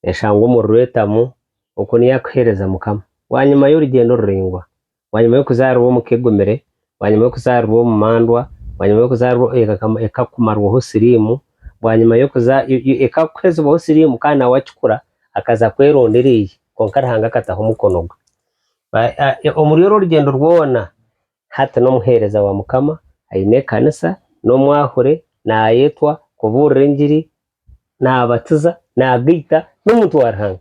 eshangwa omu Ruretamu oku niyo arikuheereza Mukama. Bwanyima y'orugyendo oruraingwa, bwanyima y'okuzaarirwa omu ka egumire, bwanyima y'okuzaarirwa omu mandwa, bwanyima y'okuzaarirwa ekakumarwaho siriimu, bwanyima ekakuhezibwaho siriimu kandi nawe wakikura akaza kwerondera eye kwonka Ruhanga akataho omukono gwe. Omuri orwo rugyendo rwona hati n'omuheereza wa Mukama, aine ekanisa, n'omwahure, nayetwa, kubuurira engiri, nabatiza, nagaita, n'omuntu wa Ruhanga.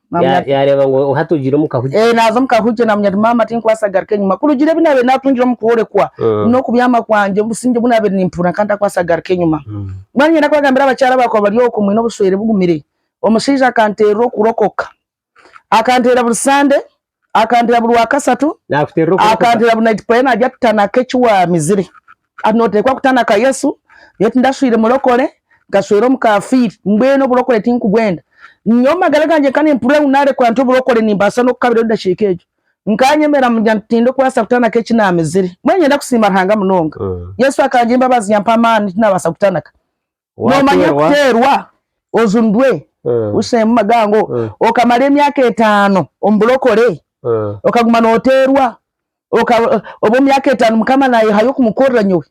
Ya- yareeba ngu oha atugire omu kahugi Eh, naaza omu kahugi naamanya nti maama tinkubaasa kugaruka enyima kurugiirira ebi naabaire naatungire omu kworekwa Mm. n'okubyama kwangye obusingye obu naabaire nimpuurira nkaba ntakubaasa kugaruka enyima Mm. mbwenu niinyenda kubagambira abakyara abaakuba bari okwo mwine obuswere bugumire omushaija akanteerera okurokoka akanteera buri sande Akantera buri wa kasatu. Nakuterera okora kuta? Akantera buri night prayer nagya kutanaka eki wamizire. Hati notekwa kutanaka Yesu, nyowe tindashwire murokore, nkashwera omukafiiri. Mbwenu oburokore tinkubwenda. Nyowe mumagara gangye nka nimpurira ngu narekora nta oburokore nimbaasa nokukabirayo edakika egyo. Nkanyemera mugira nti tindikubaasa kutanaka eki namizire. Mbwenu nyenda kusiima Ruhanga munonga. Yesu akangira embabazi yampa amaani tinabaasa kutanaka. Nomanya okuteerwa ojundwe oshishemu magango okamara emyaka etaano omu burokore okaguma noteerwa obwo myaka etaano mukama nayehayo kumukorera nyowe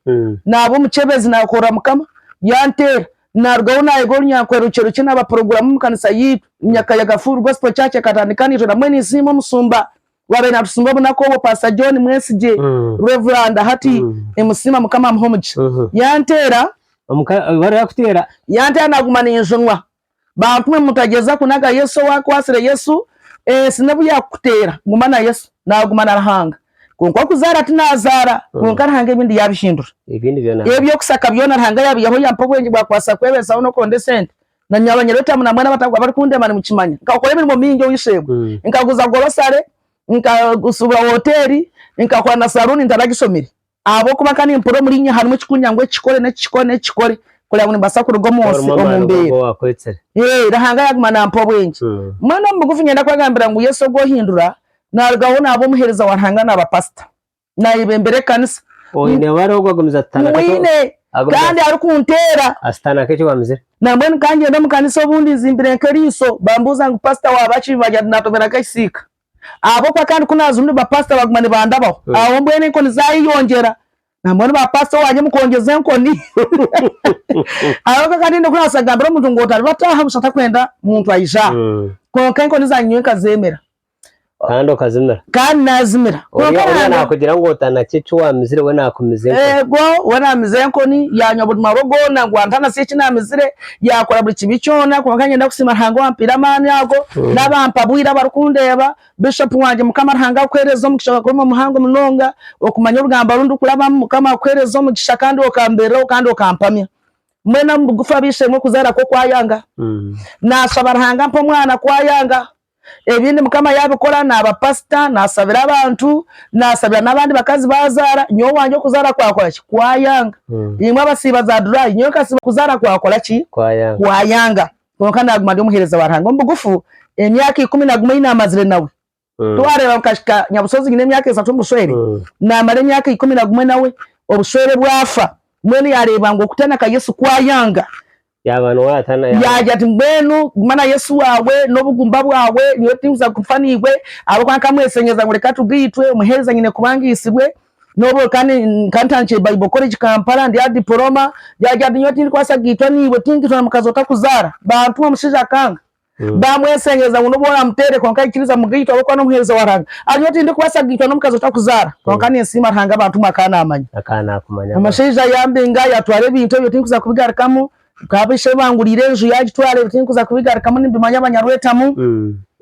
naba omukyebezi nakorera mukama yanteera narugaho nayega orunyankore rukye rukye naba puroguramu omu kanisa yaitu omu myaka ya gafuuru gospel church ekatandika naija nabwe ninsiima omusumba. Ku abaire natusinga obunaku obwo Pastor John Mwesigye, Rev. Hati nimusiima Mukama amuhe omugisha. Yanteera. Yanteera naguma ninjunwa. Bankume mutagyeza kunaga Yesu owakwatsire Yesu ensi n'obu yakukuteera guma na Yesu naguma na Ruhanga. Kwonka okuzaara tinazaara kwonka Ruhanga ebindi yabihindura. Ebyokusaka byona Ruhanga yabihaho yampa obwengye bwakubaasa kwebesaho n'okuronda esente Na nyowe abanyereeta hamu na mwena abarikundeema nimukimanya. Nkakora emirimo mingi omu isheebo. Nkaguza gorosare, nkashuubura hoteeri, nkakora na saluuni ntaragishomire. Ahabw'okuba nkaba nimpurira omuri inywe harimu ekikunyira ngu eki kikore n'eki kikore n'eki kikore kugira ngu nimbaasa kuruga omu nsi omu mbeera. Ruhanga yaaguma naampa obwengye. Mbwenu omu bugufu niinyenda kubagambira ngu Yesu ogwo ohindura naarugaho naaba omuheereza wa Ruhanga naaba paasita. nayebembera ekanisa Oine wari ogu agumiza atutana kati mwine agumiza kandi arikunteera asitana keki wamizire. nambwenu kangyende omu kanisa obundi nzimbire nk'eriiso bambuuza ngu pastor wabaki nibagira nti natobera nk'ekisiika ahabw'okuba kandi ku naza omu ba pastor baguma nibandabaho aho mbwenu enkoni zayeyongyera nambwenu ba pastor wangye mukongyeza enkoni ahabw'okuba kandi haine oku naabaasa kugambira omuntu ngu otaribataaha busha takwenda muntu aija aha kwonka enkoni zangye nyowe nkazeemera. Kandi okazimira. Kandi naazimira. Kwonka Oriya oriya naangira- naakugira ngu otanakye eki waamizire, we naakumiza enkoni. Eego, we naamiza enkoni, yaanywa buri marwa goona ngu antanasye eki naamizire, yaakora buri kibi kyona. Kwonka nyenda kusiima Ruhanga owaampaire amaani ago, n'abaampa bwire abarikundeeba, Bishopu wangye. Mukama Ruhanga akuheereze omugisha ogwakuguma muhango munonga, okumanya orugambo oru ndikurabamu. Mukama akuheereze omugisha kandi okambeereraho kandi okampamya. Mbwenu omu bugufu ab'eishe-emwe okuzaara kwo kwayanga, naashaba Ruhanga ampe omwana ku ayanga. Ebindi mukama yabikora naba pastor nasabira abantu nasabira nabandi bakazi bazara nyowe owangye okuzara kwakora ki kwayanga imwe abasiiba za durai nyowe nkasiba okuzara kwakora ki kwayanga kwonka naguma ndi omuhereza wa ruhanga omubugufu emyaka ikumi naguma eyinamazire nawe twareba nkahika nyabusozi nyine emyaka esatu omubushwere namara emyaka ikumi nagumwe nawe obushwere bwafa mbwenu yareba ngu okutana ka yesu kwayanga Yaagira ati, Mbwenu guma na Yesu waawe n'obugumba bwawe. Nyowe tinkuza kufa naibwe, ahabw'okuba nkamweshenyereza ngu reka tugaitwe. Omuheereza nyine kuba ngaitsirwe. N'obu kandi nkantandikire Bible College Kampala, ndi aha dipoloma. Yaagira ati, Nyowe tindikubaasa kugaitwa naibwe. Tinkaitwa na mukazi otakuzaara. Baantuma omushaija akanga. Baamweshengyereza ngu n'obu oraamuteere kwonka aikiriza mugaitwa ahabw'okuba n'omuheereza wa Ruhanga. Ari nyowe tindikubaasa kugaitwa n'omukazi otakuzaara. Kwonka ninsiima Ruhanga abantu mwe akaba naamanya. Omushaija yambinga yatwara ebintu ebyo tindikuza kubigarukamu. Nk'abu ishe banguriire enju yaagitwara ebyo tindikuza kubigarukamu nimbimanya Banyarwetamu.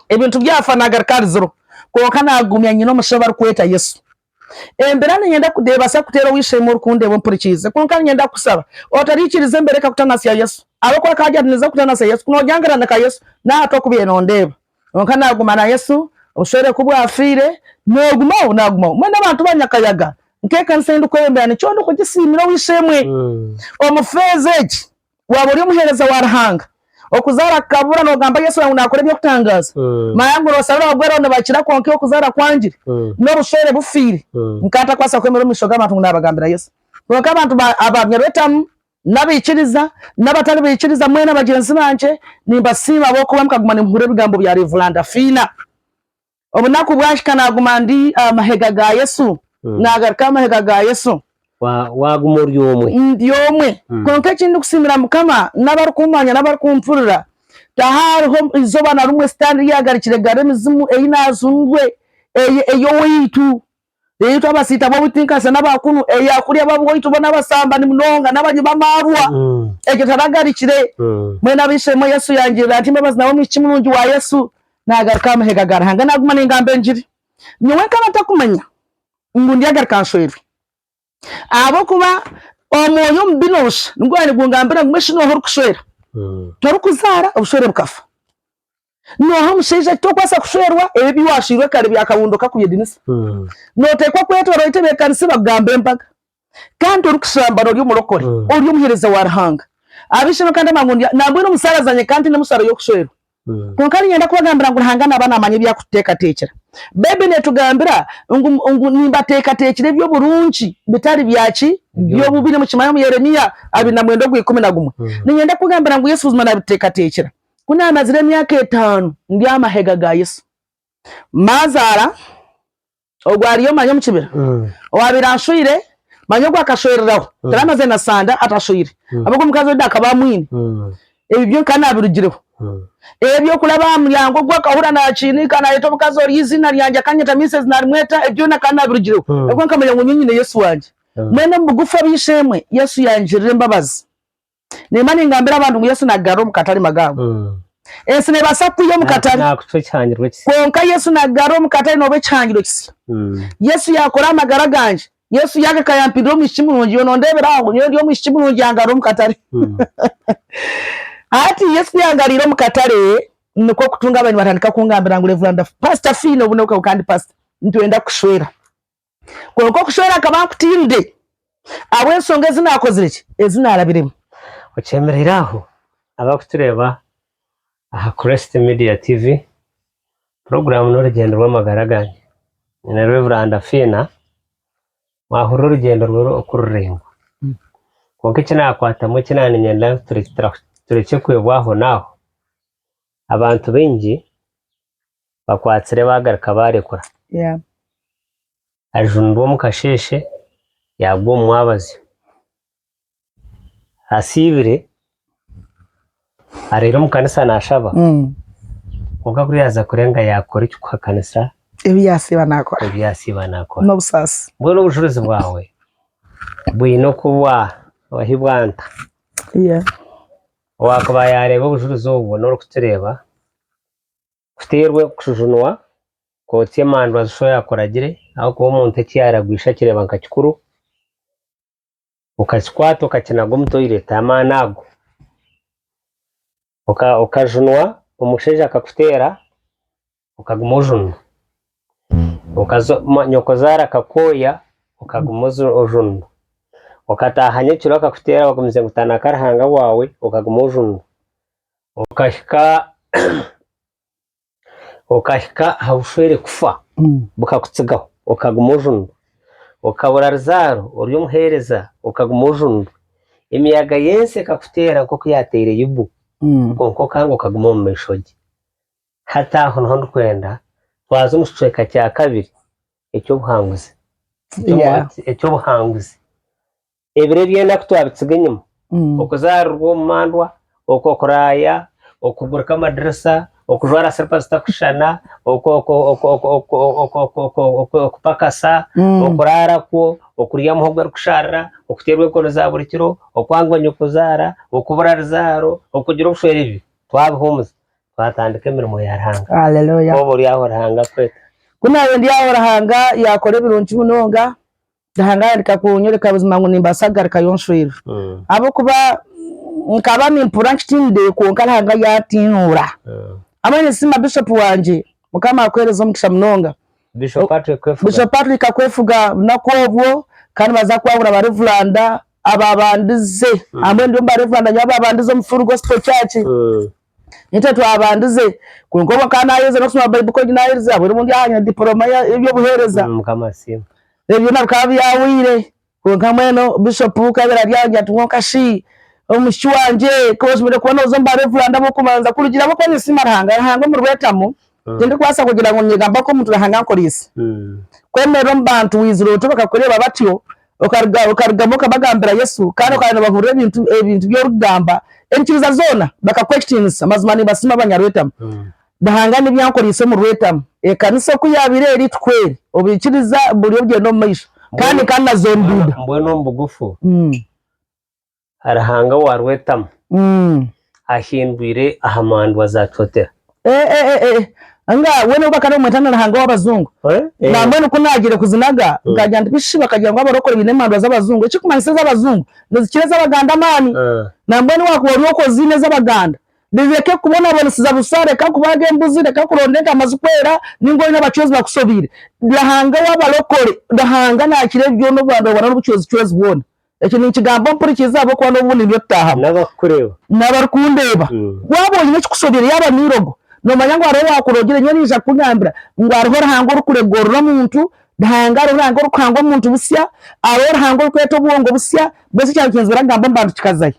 Ebintu byafa naagaruka ahari ziro. Kwonka naagumya nyine omusha ou barikweta Yesu. Embeera niinyenda kudeebaasa kuteera ow'eishe-emwe orikundeeba ompurikiize. Kwonka niinyenda kukusaba otaraikiriza embeera ekakutanasya Yesu. Ahabw'okuba akaba agira ati, Niinza kukutanasya Yesu. Kunoogyangira nda ka Yesu? N'aha tu okubaire noondeeba. Kwonka naaguma na Yesu obushwere ku bwafiire. Naagumaho, naagumaho. Mbwenu abantu ba nyakayaga nk'ekanisa ei ndikweyombera nikyo ndikugisiimira ow'eishe-emwe omu feeza egi. Waaba ori omuheereza wa Ruhanga, okuzaara kukabura nogamba Yesu ngu naakora eby'okutangaaza? Manya ngu noosharura abagweraho nibakira kwonka iwe okuzaara kwangire n'obushwere bufiire. Nkaba ntakwatsire kwemerera omu maisho g'abantu ngu naabagambira Yesu. Kwonka abantu ba Nyarwetamu, n'abaikiriza n'abatari baikiriza mwena bagyenzi bangye, nimbasiima ahabw'okuba mukaguma nimuhurira ebigambo bya Rev. Fiina. obunaku bwahika naguma ndi aha mahega ga Yesu, nagaruka aha mahega ga Yesu. Waguma ori omwe? Ndi omwe. Kwonka eki ndikusiimira Mukama n'abarikumanya n'abarikumpuurira, tihariho eizooba na rimwe sitaane ryagarukire gari emizimu ei naajungwe, ei owaitu Beitu abasiita bobu tinkasya naba kunu, eyakulya babu waitu bona abasambani munonga nabanyi bamarwa, ekyo taragarikire, mbwenu abaishemo Yesu yangirira ati embabazi nawe omwishiki murungi wa Yesu nagaruka aha mahega ga Ruhanga naguma nengamba engiri, nyowe nkaba ntakumanya ngu ndyagaruka nshwerwe ahabokuba omwoyo omubi nosha nigwaba nigungambira ngu mesha noha orikushwera torikuzaara obushwere bukafa. Nooha omushaija ati tookubaasa kushwerwa ebi ebi waashairwe kare byakabundo kakubyedinisa? Nooteekwa kwetoroora otebeekanise bakugambe embaga. Kandi torikushamba noori omurokore, ori omuheereza wa Ruhanga. Ab'eishe-emwe kandi amangu ndi nambwenu musaaraza nyekaa ntiine mushaaro y'okushwerwa. Kwonka niinyenda kubagambira ngu Ruhanga naaba naamanya ebi arikututeekateekyera. Baibuli neetugambira ngu ngu nimbateekateekyera eby'oburungi bitari bya ki? By'obubi. Nimukimanya omu Yeremia abiri na mwenda ogw'ikumi na gumwe. Niinyenda kubagambira ngu Yesu buzima naabituteekateekyera. Ku naamazire emyaka etaano ndi aha mahega ga Yesu, maazaara ogwo ariyo manya omu kibira owaabaire anshwire manya ogwo akashwereraho taraamazire na sande atashwire ahabw'oku omukazi ondi akaba amwine. Ebi byo nkaba naabirugireho. Eby'okuraba aha muryango ogwo akahurira naakiiniika naayeeta omukazi ori eiziina ryangye akanyeta Miisezi naarimweta, ebyo byona nkaba naabirugireho ahabw'okuba nkamanya ngu nyowe nyine Yesu wangye. Mbwenu omu bugufu ab'eishe-emwe, Yesu yangirira embabazi. Nimba ningambira abantu ngu Yesu naagarura omu katare magaagu. Ensi neebaasa kwiha omu katare, kwonka Yesu naagarura omu katare nooba ekihangirwe kisya. Yesu yaakora aha magara gangye. Yesu yaagaka yampindura omwishiki murungi. Yoona ondeebera aho, nyowe ndi omwishiki murungi yangarura omu katare. Hati Yesu ku yangarwire omu katare, nikwo kutunga abari nibatandika kungambira ngu, Revuranda, Paasita Fiina, obu n'obu ka, kandi Paasita, nitwenda kukushwera. kwonka okushwera akaba ankutiirire ahabw'enshonga ezi naakozire ki, ezi naarabiremu. Okyemereire aho abarikutureeba aha Crest Media TV, puroguraamu n'orugyendo rw'amagara gange. Nyine Reveranda Fiina, mwahurira orugyendo rwe oku ruraingwa. Kwonka eki naakwatamu eki naaniinyenda ngu turekye kwebwa aho naaho, Abantu baingi bakwatsire bagaruka barekura. Yeah. Ajunirwe omu kasheeshe yagwa omu mwabazyo. Asiibire areire omu kanisa nashaba Mm. kwonka ku yaza kurenga yakora ekikuhakanisa Ebi yasiiba nakora. ebi yasiiba nakora. N'obusaasi. Mbwenu obujuruzi bwawe bwine oku bwa wahibwa nta? Yeah. Owaakuba yaareeba obujurizi obu bwona orikutureeba, kuteerwe kujunwa, kootsya emandwa zi shoya akuragire, ahabw'okuba omuntu eki yaaragwisha akireeba nka kikuru, okakikwata okakinaga omu toireti, amaani ago, okajunwa, omushaija akakuteera, okaguma ojunwa, okazooka nyokozaara akakwoya okaguma ojunwa, okataaha nyekiro akakuteera wagumize ngu tanaaka Ruhanga waawe okaguma ojunwa, okahika okahika aha bushwere kufa bukakutsigaho okaguma ojunwa, okabura ruzaaro ori omuheereza okaguma ojunwa, emiyaga y'ensi ekakuteera nk'oku yaateire Yobu kwonka okanga okaguma omu maisho ge. Hati aho niho ndikwenda twaze omu kicweka kya kabiri eky'obuhanguzi. Eky'obuhanguzi. Ebiro eby'enaku twabitsiga enyima. Okuzaarirwa omu mandwa, okwo okuraaya, okugurika amadirisa, okujwara siripa zitakushushana, okupakasa, okuraara kwo, okurya muhogo erikusharira, okuteerwa enkoni za buri kiro, okwangwa nyokuzaara, okubura rizaaro, okugira obushwere, ebyo twabihumuza. twatandika emirimo ya Ruhanga. Haleluya. Oba ori aho Ruhanga akweta. Ku naabaire ndi aho Ruhanga yaakora ebirungi munonga. Ruhanga yaareeka kunyoreka buzima ngu nimbaasa kugarukayo nshweirwe. Ahabw'okuba nkaba nimpurira nkitiinire kwonka Ruhanga yaatiinuura. Hamwe ninsiima Bishop wangye. Mukama akuheereze omugisha munonga. Bishop Patrick Kwefuga. Bishop Patrick Kwefuga obunaku obwo kandi nibaza kwahura barevuranda abaabandize. Hamwe ndi omu barevuranda nyowe abaabandize omu Full Gospel Church. Nitwe twabandize kwonka obwe nkaba nayeherize nokusoma Bible College nayeherize ahabwenu obundi ahanywa diploma yebyobuhereza ebyo byona bikaba byahweire kwonka mbwenu bishop kukabire ari aho ngira kwonka shi omwishiki wangye koshemereire kuba noza omu ba reverand abokubanza kurugiirira ahabwokuba ninsiima Ruhanga, Ruhanga omurwetamu. Tindikwasa kugira ngu nyegamba ku omuntu Ruhanga ankoreise. Kwemerera omu bantu waizire oti bakakureeba batyo, okarugamu okabagambira Yesu kandi okaba nibahurira ebintu ebintu ebi orikugamba enyikiriza zoona bakakuha ekitiinisa. Mazima nimbasiima abanyarwetama. Ruhanga n'ebi yankoreise omu rwetama. Ekanisa oku yaabaire eri tikwo eri. Obuikiriza buri obugyenda omu maisho kandi ni kanazo nduda. Mbwenu omu bugufu, Ruhanga wa Rwetamu ahindwire aha mandwa za Cotera. Eh eh eh eh nga we nobu bakaba nibamweta na Ruhanga w'abazungu Eh, na eh. mbwenu ku naagiire kuzinaga nkagira nti bishi bakagira ngu abarokore baine emandwa z'abazungu ekikumanyisa ez'abazungu nizikira ez'Abaganda amaani Ah. na mbwenu waakuba ori oku oziine ez'Abaganda rireke kubonabonesiza busa reka kubaaga embuzi reka kuronda entaama zikwera ninga oine abacwezi bakusobiire Ruhanga w'abarokore Ruhanga naakira ebi byona obubandwabandwa n'obucwezicwezi bwona Eki ninkigamba ompurikiirize ahabw'okuba n'obu nindyo tutaahamu. N'abarikukureeba. N'abarikundeeba. Waaba oine ekikushobeire yaaba n'eirogo, noomanya ngu hariho owaakurogire, nyowe naija kukugambira ngu hariho Ruhanga orikuregwa orure omuntu, Ruhanga hariho Ruhanga orikuhanga omuntu busya, hariho Ruhanga orikweta obwongo busya, mbwenu eki ekyaba nikinyizira kugamba mba ndikikazayo.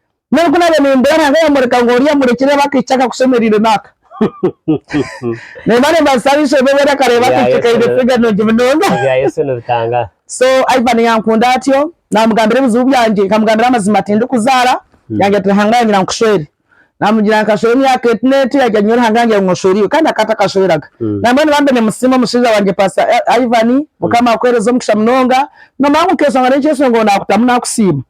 N'obu naabe nimbura Ruhanga yamworeka ngu oriya amurekire aba akaicu akakushemereire n'aka. Nimba nimbaasisa aha ishomero weena akareeba akaicu kaine figa nungi munonga. Ebya Yesu nibitangaara. So Ivan yankunda atyo, naamugambira ebizibu byangye, nkamugambira amazima tindikuzaara, yangira ati Ruhanga yanyira ngu nkushwere. Naamugira ngu nkashwera emyaka eti n'eti, yaagira nyowe Ruhanga yangira ngu oshwere iwe kandi akaba atakashweraga. Nambwenu bambi nimusiima omushaija wangye Paasita Ivan, Mukama akuheereze omugisha munonga. Noomanya ngu nkeeshongana enkyeshongo naakutamu naakusiima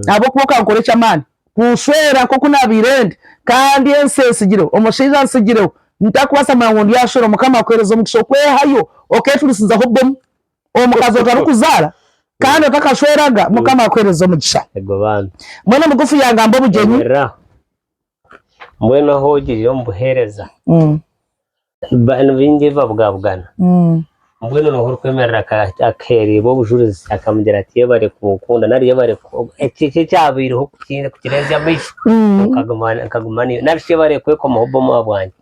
ahabw'okuba okankora eky'amaani kunshwera nk'oku naabaire ndi, kandi ensi entsigireho, omushaija antsigireho, ntarikubaasa kumanya ngu ndi aha shwero. Mukama akuheereze omugisha okwehayo okeecurisizaho bwe omu omukazi otarikuzaara kandi otakashweraga. Mukama akuheereze omugisha. Mbwenu mugufu yaangamba obugyenyi. Mbwenu ahu ogirire omu buheereza abantu baingi babugabugana. Mbwenu niho orikwemerera akaheererwa obujurizi akamugira ati yebare kunkunda nari yebare ekyo ekyabaireho kukireetsya amaisho nkaguma naiwe nari shi yebare kwekomaho obubomba bwangye.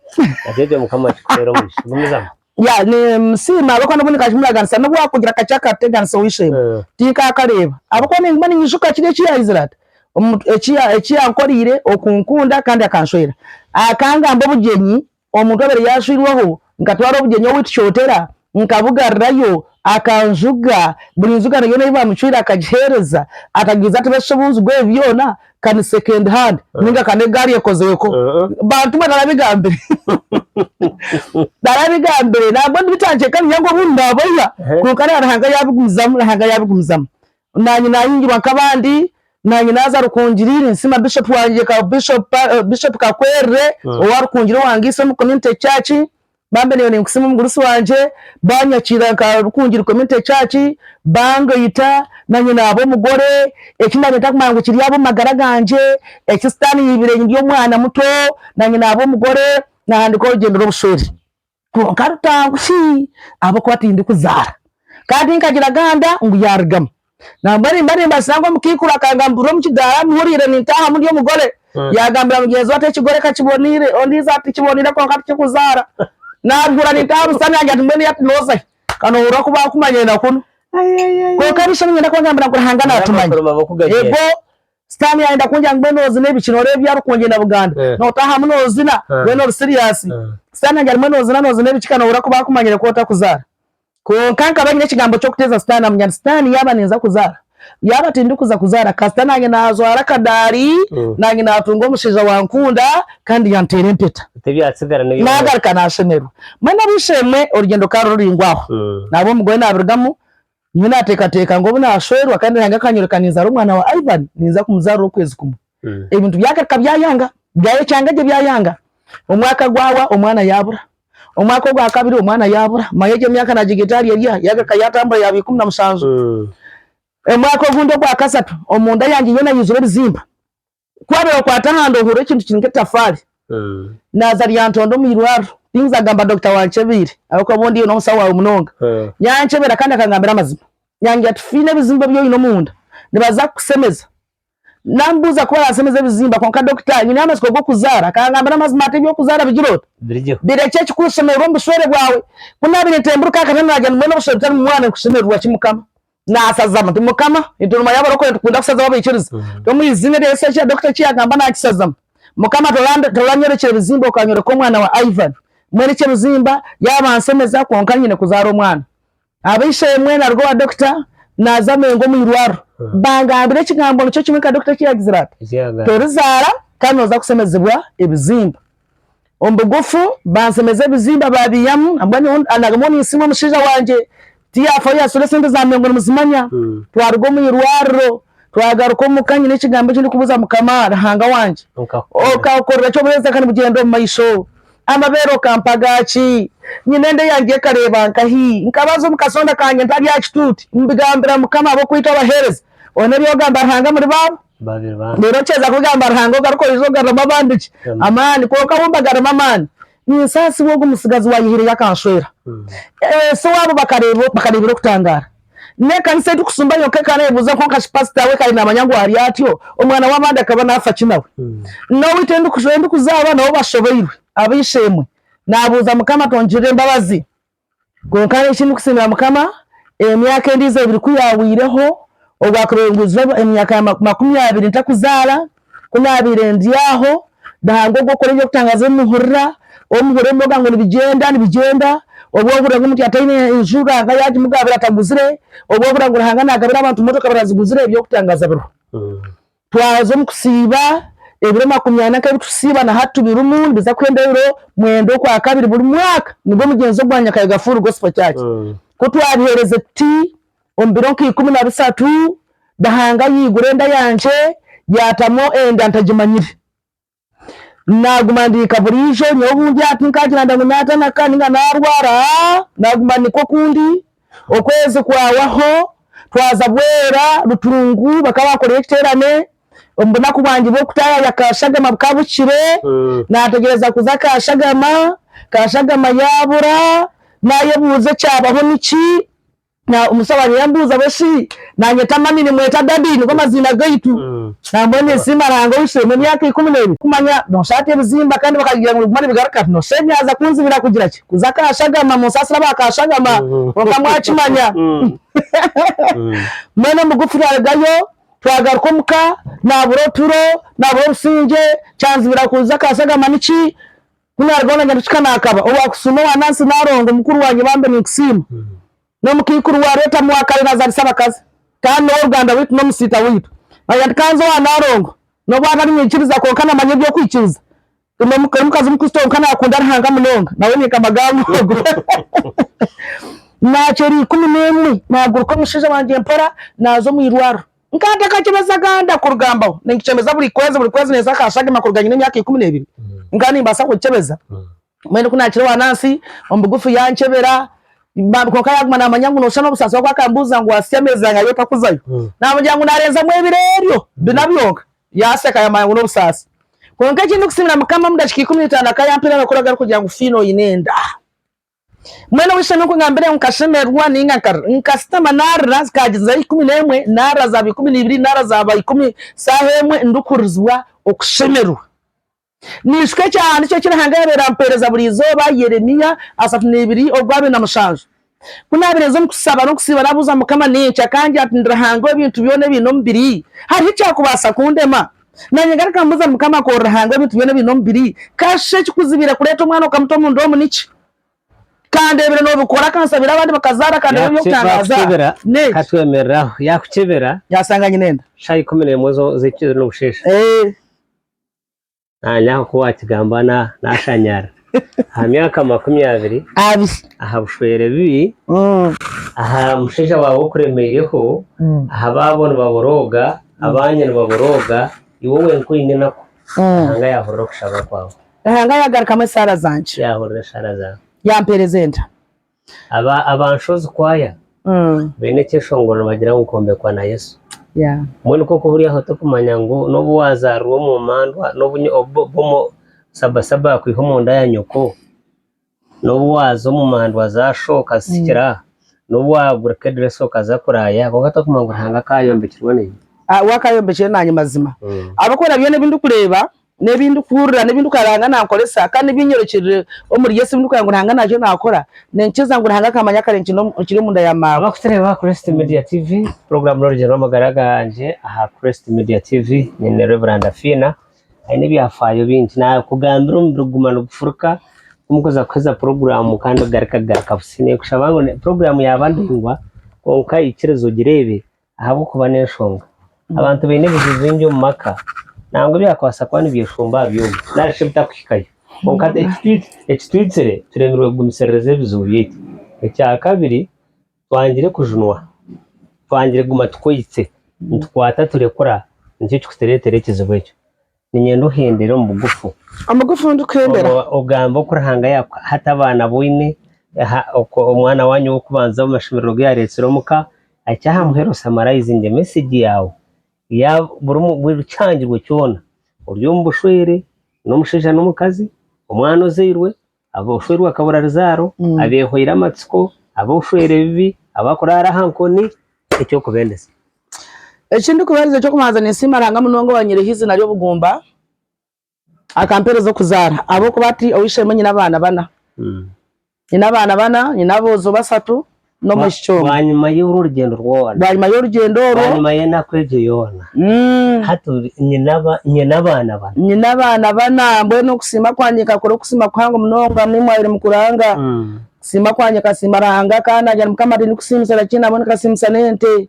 Egyo Mukama akikuheere omugisha. Gumizamu. Yeah nimusiima ahabw'okuba n'obundi nkagira muraganisa n'obu waakugira kakye akateganisa ow'eishe-emwe tinkaakareeba ahabw'okuba niinguma niinyijuka kiri eki yaahizire ati eki yankoreire okunkunda kandi akanshwera akangamba obugyenyi omuntu owabaire yaashwirweho nkatwara obugyenyi owiitu Kyotera nkabugarurayo akanjuga buri njugano yoona ei baamucwire akagiheereza akagiriza ati bashusha obungi bw'ebi byona ka ni second hand ninga ka n'egaari ekozirweho bantu mwe narabigambire narabigambire nahabw'enki bikyanceeka niga ngu obundi naboya kwonka na Ruhanga yabigumizamu Ruhanga yabigumizamu naanye nahingirwa nk'abandi naanye naaza Rukungiri ninsiima Bishop wangye ka Bishop Bishop Kakwerere owa Rukungiri owangiise omu Community Church Bambi nyowe ninkusiima omugurusi wangye, banyakiira nka Rukungiri Community Church, bangaita, nanye naaba omugore, eki nanye ntakumanya ngu kiri ahabwo magara gangye, eki sitaani yaibire ndi omwana muto, nanye naaba omugore, nahandika orugyendo rw'obushwere, kwonka rutangu shii ahabw'okuba tindikuzaara, kandi tinkagira ganda ngu yarugamu. Nambwa nimba nimbatsira ngu omukaikuru akangamburira omu kidaara amuhuriire nintaahamu ndi omugore, yaagambira mugyenzi we ati ekigore ka kiboneire, ondiijo ati tikiboneire kwonka tikikuzaara. Naabihurira nintaaha aha busaani yangye ati mbwenu ati nooza hi? Ka noohurira ku baakumanyire na kunu. Kwonka ab'eishe niinyenda kubagambira ngu Ruhanga naatumanya. Ego, Sitaane yaayenda kungira ngu mbwenu noozina ebiki? Nooreeba ebya Rukungye na Buganda, nootaahamu noozina, mbwenu ori siriyaasi? Sitaane yangye ati mbwenu noozina noozina ebiki ka noohurira ku baakumanyire ku otakuzaara? Kwonka nkaba nyine ekigambo ky'okuteeza sitaani namunyaani sitaani yaaba ninza kuzaara yaaba tindikuza kuzaara kasita naanye naajwara akadaari naanye naatunga omushaija wankunda kandi yanteera empeta naagaruka naashemerwa mbwenu ab'eishe-emwe orugyendo ka rururaingwa aho naabe omugore naabirugamu nyowe naateekateeka ngu obu naashwerwa kandi Ruhanga akanyoreka ninzaara omwana wa Ivan ninza kumuzaara orw'okwezi kumwe Ebintu byagaruka byayanga, byayecanga gye byayanga. Omwaka gwawa omwana yabura. Omwaka ogwa kabiri omwana yabura. Manya egyo emyaka nagiga etaari erya, yagaruka yatambura yaba ikumi na mushanju. Omwaka ogundi ogwa kasatu omu nda yangye yoona yaizire ebizimba. Ku waabaire kwata aha nda ohurira ekintu kiri nk'etafaari. Naaza ryantonda omu irwariro. Tinza kugamba dokita wankyebeire ahabw'okuba obu ndiyo n'omusaho waawe munonga. Yankyebera kandi akangambira amazima. Yangira ati, Fiina ebizimba ebi oine omu nda nibaza kukusemeza. Namubuuza ku baransemeza ebizimba kwonka dokita anyineho amatsiko g'okuzaara akangamba n'amazima ati eby'okuzaara bigire ota? Birekye ekikwesemererwa omu bushwere bwawe. Ku naabaire ntemburuka aha katanda naagira nti mbwenu obushwere butari mu mwana nikushemererwa ki Mukama? Naasazamu nti Mukama, entooroma y'abarokore nitukunda kusazaho abaikiriza. Omu iziina rya Yesu eki dokita eki yaagamba naakisazamu. Mukama toranyorekye ebizimba okanyoreka omwana wa Ivan. Mbwenu eky'ebizimba yaaba ansemeza kwonka nyine kuzaara omwana. Ab'eishe-emwe naruga owa dokita naaza Mengo omu irwariro. Bangambira ekigambo nikyo kimwe nka dokita eki yaagizire ati, Torizaara kandi nooza kusemezibwa ebizimba. Omu bugufu, bansemeza ebizimba baabiiyamu. Nagamba ngu ninsiima omushaija wangye tiyaafayo yaasasura esente za Mengo nimuzimanya. Twaruga omu irwariro, twagaruka omuka nyine ekigambo eki ndikubuuza Mukama Ruhanga wangye, Okankorera ki obuheereza kandi bugyende omu maisho? Amabeere okampa gaaki? Nyina enda yangye ekareeba nkahi? Nkabaza omu kasonda kangye nti Ari aha kituuti? Mbigambira Mukama ahabw'okwita abaheereza. Ona ebi ogamba Ruhanga muri baabo? Reero okyeza kubigamba Ruhanga ogaruka oije ogaruramu abandi ki? Amaani? Kwonka abu mbagaremu amaani, ninsaasibwa ogu mutsigazi waayehaireyo akanshwera. Ese waabo bakareebire okutangaara. N'ekanisa ei turikusumba yonka ekareebuza kwonka shi pasita we kare naamanya ngu ari atyo? Omwana w'abandi akaba naafa ki nawe? N'ou itwe ei ndikuzaara nabo bashobeirwe. Ab'eishe-emwe, naabuuza Mukama tongirire embabazi. Kwonka nyowe eki ndikusiimira Mukama, emyaka endiijo ebiri ku yaahweireho, obwaakubaire bwizire emyaka makumi abiri ntakuzaara, Ku naabaire ndi aho, Ruhanga ogwo kukora eby'okutangaaza ebi muhurira, obu muhurira ebi mwogira ngu nibigyenda, nibigyenda, obu ohurira ngu omuntu yataine nju Ruhanga yaagimugaabira ataguzire, obu ohurira ngu Ruhanga naagabira abantu motoka baraziguzire, eby'okutangaaza biriho. Twaza omu kusiiba, ebiro makumi ana nk'ebi turikusiiba na hati birimu, nibiza kuhenda ebiro mwenda Okwakabiri buri mwaka. Nibwo mugyenzi ogwangye akayega Full Gospel Church. Ku twabiheereze tuti, Omu biro nka ikumi na bisatu Ruhanga yaigura enda yangye, yaatamu endya ntagimanyire. Naaguma ndiika buriijo, nyowe obu ndyaha tinkaagira ndya ngu naatanaka nainga naarwara, naaguma nikwo oku ndi. Okwezi kwahwaho, twaza Bwera, Rutungu, bakaba baakoreyo ekiteerane. Omu bunaku bwangye bw'okutaayaya Kashagama bukaba buhikire, naategyereza kuza Kashagama, Kashagama yaabura, naayebuuza ekyabaho niki. Omutabani yambuuza bwe shi naanyeta mami nimweta Daddy nigo maziina gaitu. Nambwenu ninsiima Ruhanga owishushwemu emyaka ikumi n'ebiri kumanya noosha ati ebizimba kandi bakagira ngu nibiguma nibigaruka ati noosha ebi yaaza kunzibira kugira ki kuza aka Shagama munsaasire aba ka Shagama kwonka mwakimanya mbwenu omugufi twarugayo twagaruka omuka naabura oturo naabura obusingye kyanzibira kuza aka Shagama niki Ku naarugaho na Nyarukiga naakaba owa kusiima owa Nansi Naalongo, mukuru wa Nyebambe ninkusiima. N'omukaikuru wa Rweta Mwakare naazaalisa abakazi kandi n'ow'oruganda rwaitu n'omusiita waitu. Naija nti kanza owa Naalongo n'obu atari mwikiriza kwonka namanya eby'okwikiriza. Ndi n'omukazi mukristo kwonka naakunda Ruhanga munonga. Nawe ninka Maganga ogu. Naakyera ikumi n'emwe naaguruka omushaija wangye mpora naaza omu irwariro. Nkaba ntakakyebezaga ndakurugambaho, ninkikyebeza buri kwezi buri kwezi nensa ka Shagima kuruga nyine emyaka ikumi n'ebiri nkaba nimbaasa kukikyebeza mbwenu ku naakire owaanansi omu bugufu yankyebera bambi kwonka yaaguma naamanya ngu nooshushana obusaasi obu akambuuza ngu waasya ameezi angahi otakuzayo naamugira ngu naarenzamu ebiro ebyo bina byonka yaaseka yaamanya ngu n'obusaasi. Kwonka eki ndikusiimira Mukama omu dakiika ikumi na itaano akaba yampaire amakuru agarikugira ngu Fiina oine enda. Mwena ow'eishe n'onkugambire ngu nkashemererwa ninga nkasitama narira zikaagira za ikumi n'emwe narira zaaba ikumi n'ibiri narira zaaba ikumi saaha emwe ndikuhurizibwa okushemererwa. Ninshuka ekyahandiikirwe eki Ruhanga yaabaire ampeereza buri izooba, Yeremia asatu n'ebiri ogw'abiri na mushanju. Ku naabaire ninza omu kushaba n'okusiiba nabuuza Mukama nintya, akangira ati Ndi Ruhanga ow'ebintu byona ebiine omubiri, hariho ekyakubaasa kundema? Naanye ngaruka mbuza Mukama ku ori Ruhanga w'ebintu byona ebiine omubiri, ka shi ekikuzibiire kureeta omwana okamuta omu nda omu niki? Ka ndeebire noobikora, ka nsabire abandi bakazaara, ka ndeebire eby'okutangaaza Yaakukebera, n'eki? ka twemerere aho. Yaakukebera, Yaasanga nyine enda. shaaha ikumi n'emwe zo- z'ekiro n'obusheesha. Eeh. Naanye aho ku waakigamba na- naashanyaarira. aha myaka makumi abiri aha bushwere bibi, aha mushaija waawe okuremeireho, aha baabo nibaborooga, abaanyu nibaborooga, iwe wenka oine enaku, Ruhanga yaahurira okushaba kwawe. Ruhanga yaagarukamu esaara zangye. Yaahurira esaara zaawe. Yampeereza enta. Aba Nshozi Choir baine ekyeshongoro nibagira ngu Kwombekwa na Yesu. Mbwenu nikwo kuba ori aho torikumanya ngu n'obu waazaarwa omu mandwa, n'obu sabasaba yaakwiha omu nda ya nyoko, n'obu waaza omu mandwa za sho okazitsikira, n'obu waagurika edirisa okaza kuraaya, kwonka torikumanya ngu Ruhanga akaayombekirwe nanye. Akaayombekirwe nanye mazima ahabw'okuba na byona ebi ndikureeba. n'ebi ndikuhurira n'ebi ndikureeba Ruhanga naankoresa kandi n'ebi nyorokirire omuri Yesu ebi ndikureeba ngu Ruhanga naija naakora, ninkiza ngu Ruhanga akaamanya kare nkiri omunda ya maama. Abakutureeba aha Christ Media TV, puroguraamu n'orugyerero rw'amagara gangye aha Christ Media TV. Nyine Rev. Fiina aine ebyafaayo bingi. Naakugambira omubiri kuguma nigufuruka ku mukuza kuheeza puroguraamu kandi ogaruka garuka busi. Ninkushaba ngu puroguraamu yaaba ndaingwa kwonka ikiriza ogireebe Ahabw'okuba n'enshonga abantu baine ebizibu bingi omu maka nangwa ebyakubaasa kuba nibyeshumba aha byoma nari shi bitakuhikayo. Kwonka ekitwitsire turemirwe kugumisiriza ebizibu byaitu. Ekyakabiri, twangire kujunwa, twangire kuguma tukwaitse nitukwata turekura nikyo kirikutureetera ekizibu ekyo. Ninyenda ohendere omu bugufu. Omu bugufu ndikuhendera. Ogambe oku Ruhanga yakuha ati abaana abu oine, oku omwana waanyu ow'okubanza omu mashemerero ogu yaareetsire omu ka ahikye aha muheru osamaraizinge mesegi yaawe ya buri kihangirwe kyona ori omu bushwere n'omushaija n'omukazi, omwana ozairwe, ab'obushweere bwa kaburaruzaaro, abeehoire amatsiko, ab'obushweere ebibi, abarikuraara aha nkoni, eky'okubendeza. Eki ndikubaheereza eky'okubanza ninsiima Ruhanga munonga owaanyiireho eiziina ry'obugumba, akampeereza okuzaara ahabw'okuba hati owu isheemwe nyine abaana bana. Nyine abaana bana, nyine aboojo bashatu, n'omwishiki omwe bwanyima y'orwo orugyendo rwona bwanyima y'orugyendo orwo bwanyima y'enaku egyo yoona mm, hati ori- nyine aba- nyine abaana bana nyine abaana bana mbwenu okusiima kwangye nkakora okusiima kuhango munonga amu imwaire mukuranga Mm. kusiima kwangye nkasiima Ruhanga kandi nagenda Mukama ati ndikusiimisa na ki nabwo nikasiimisa n'ente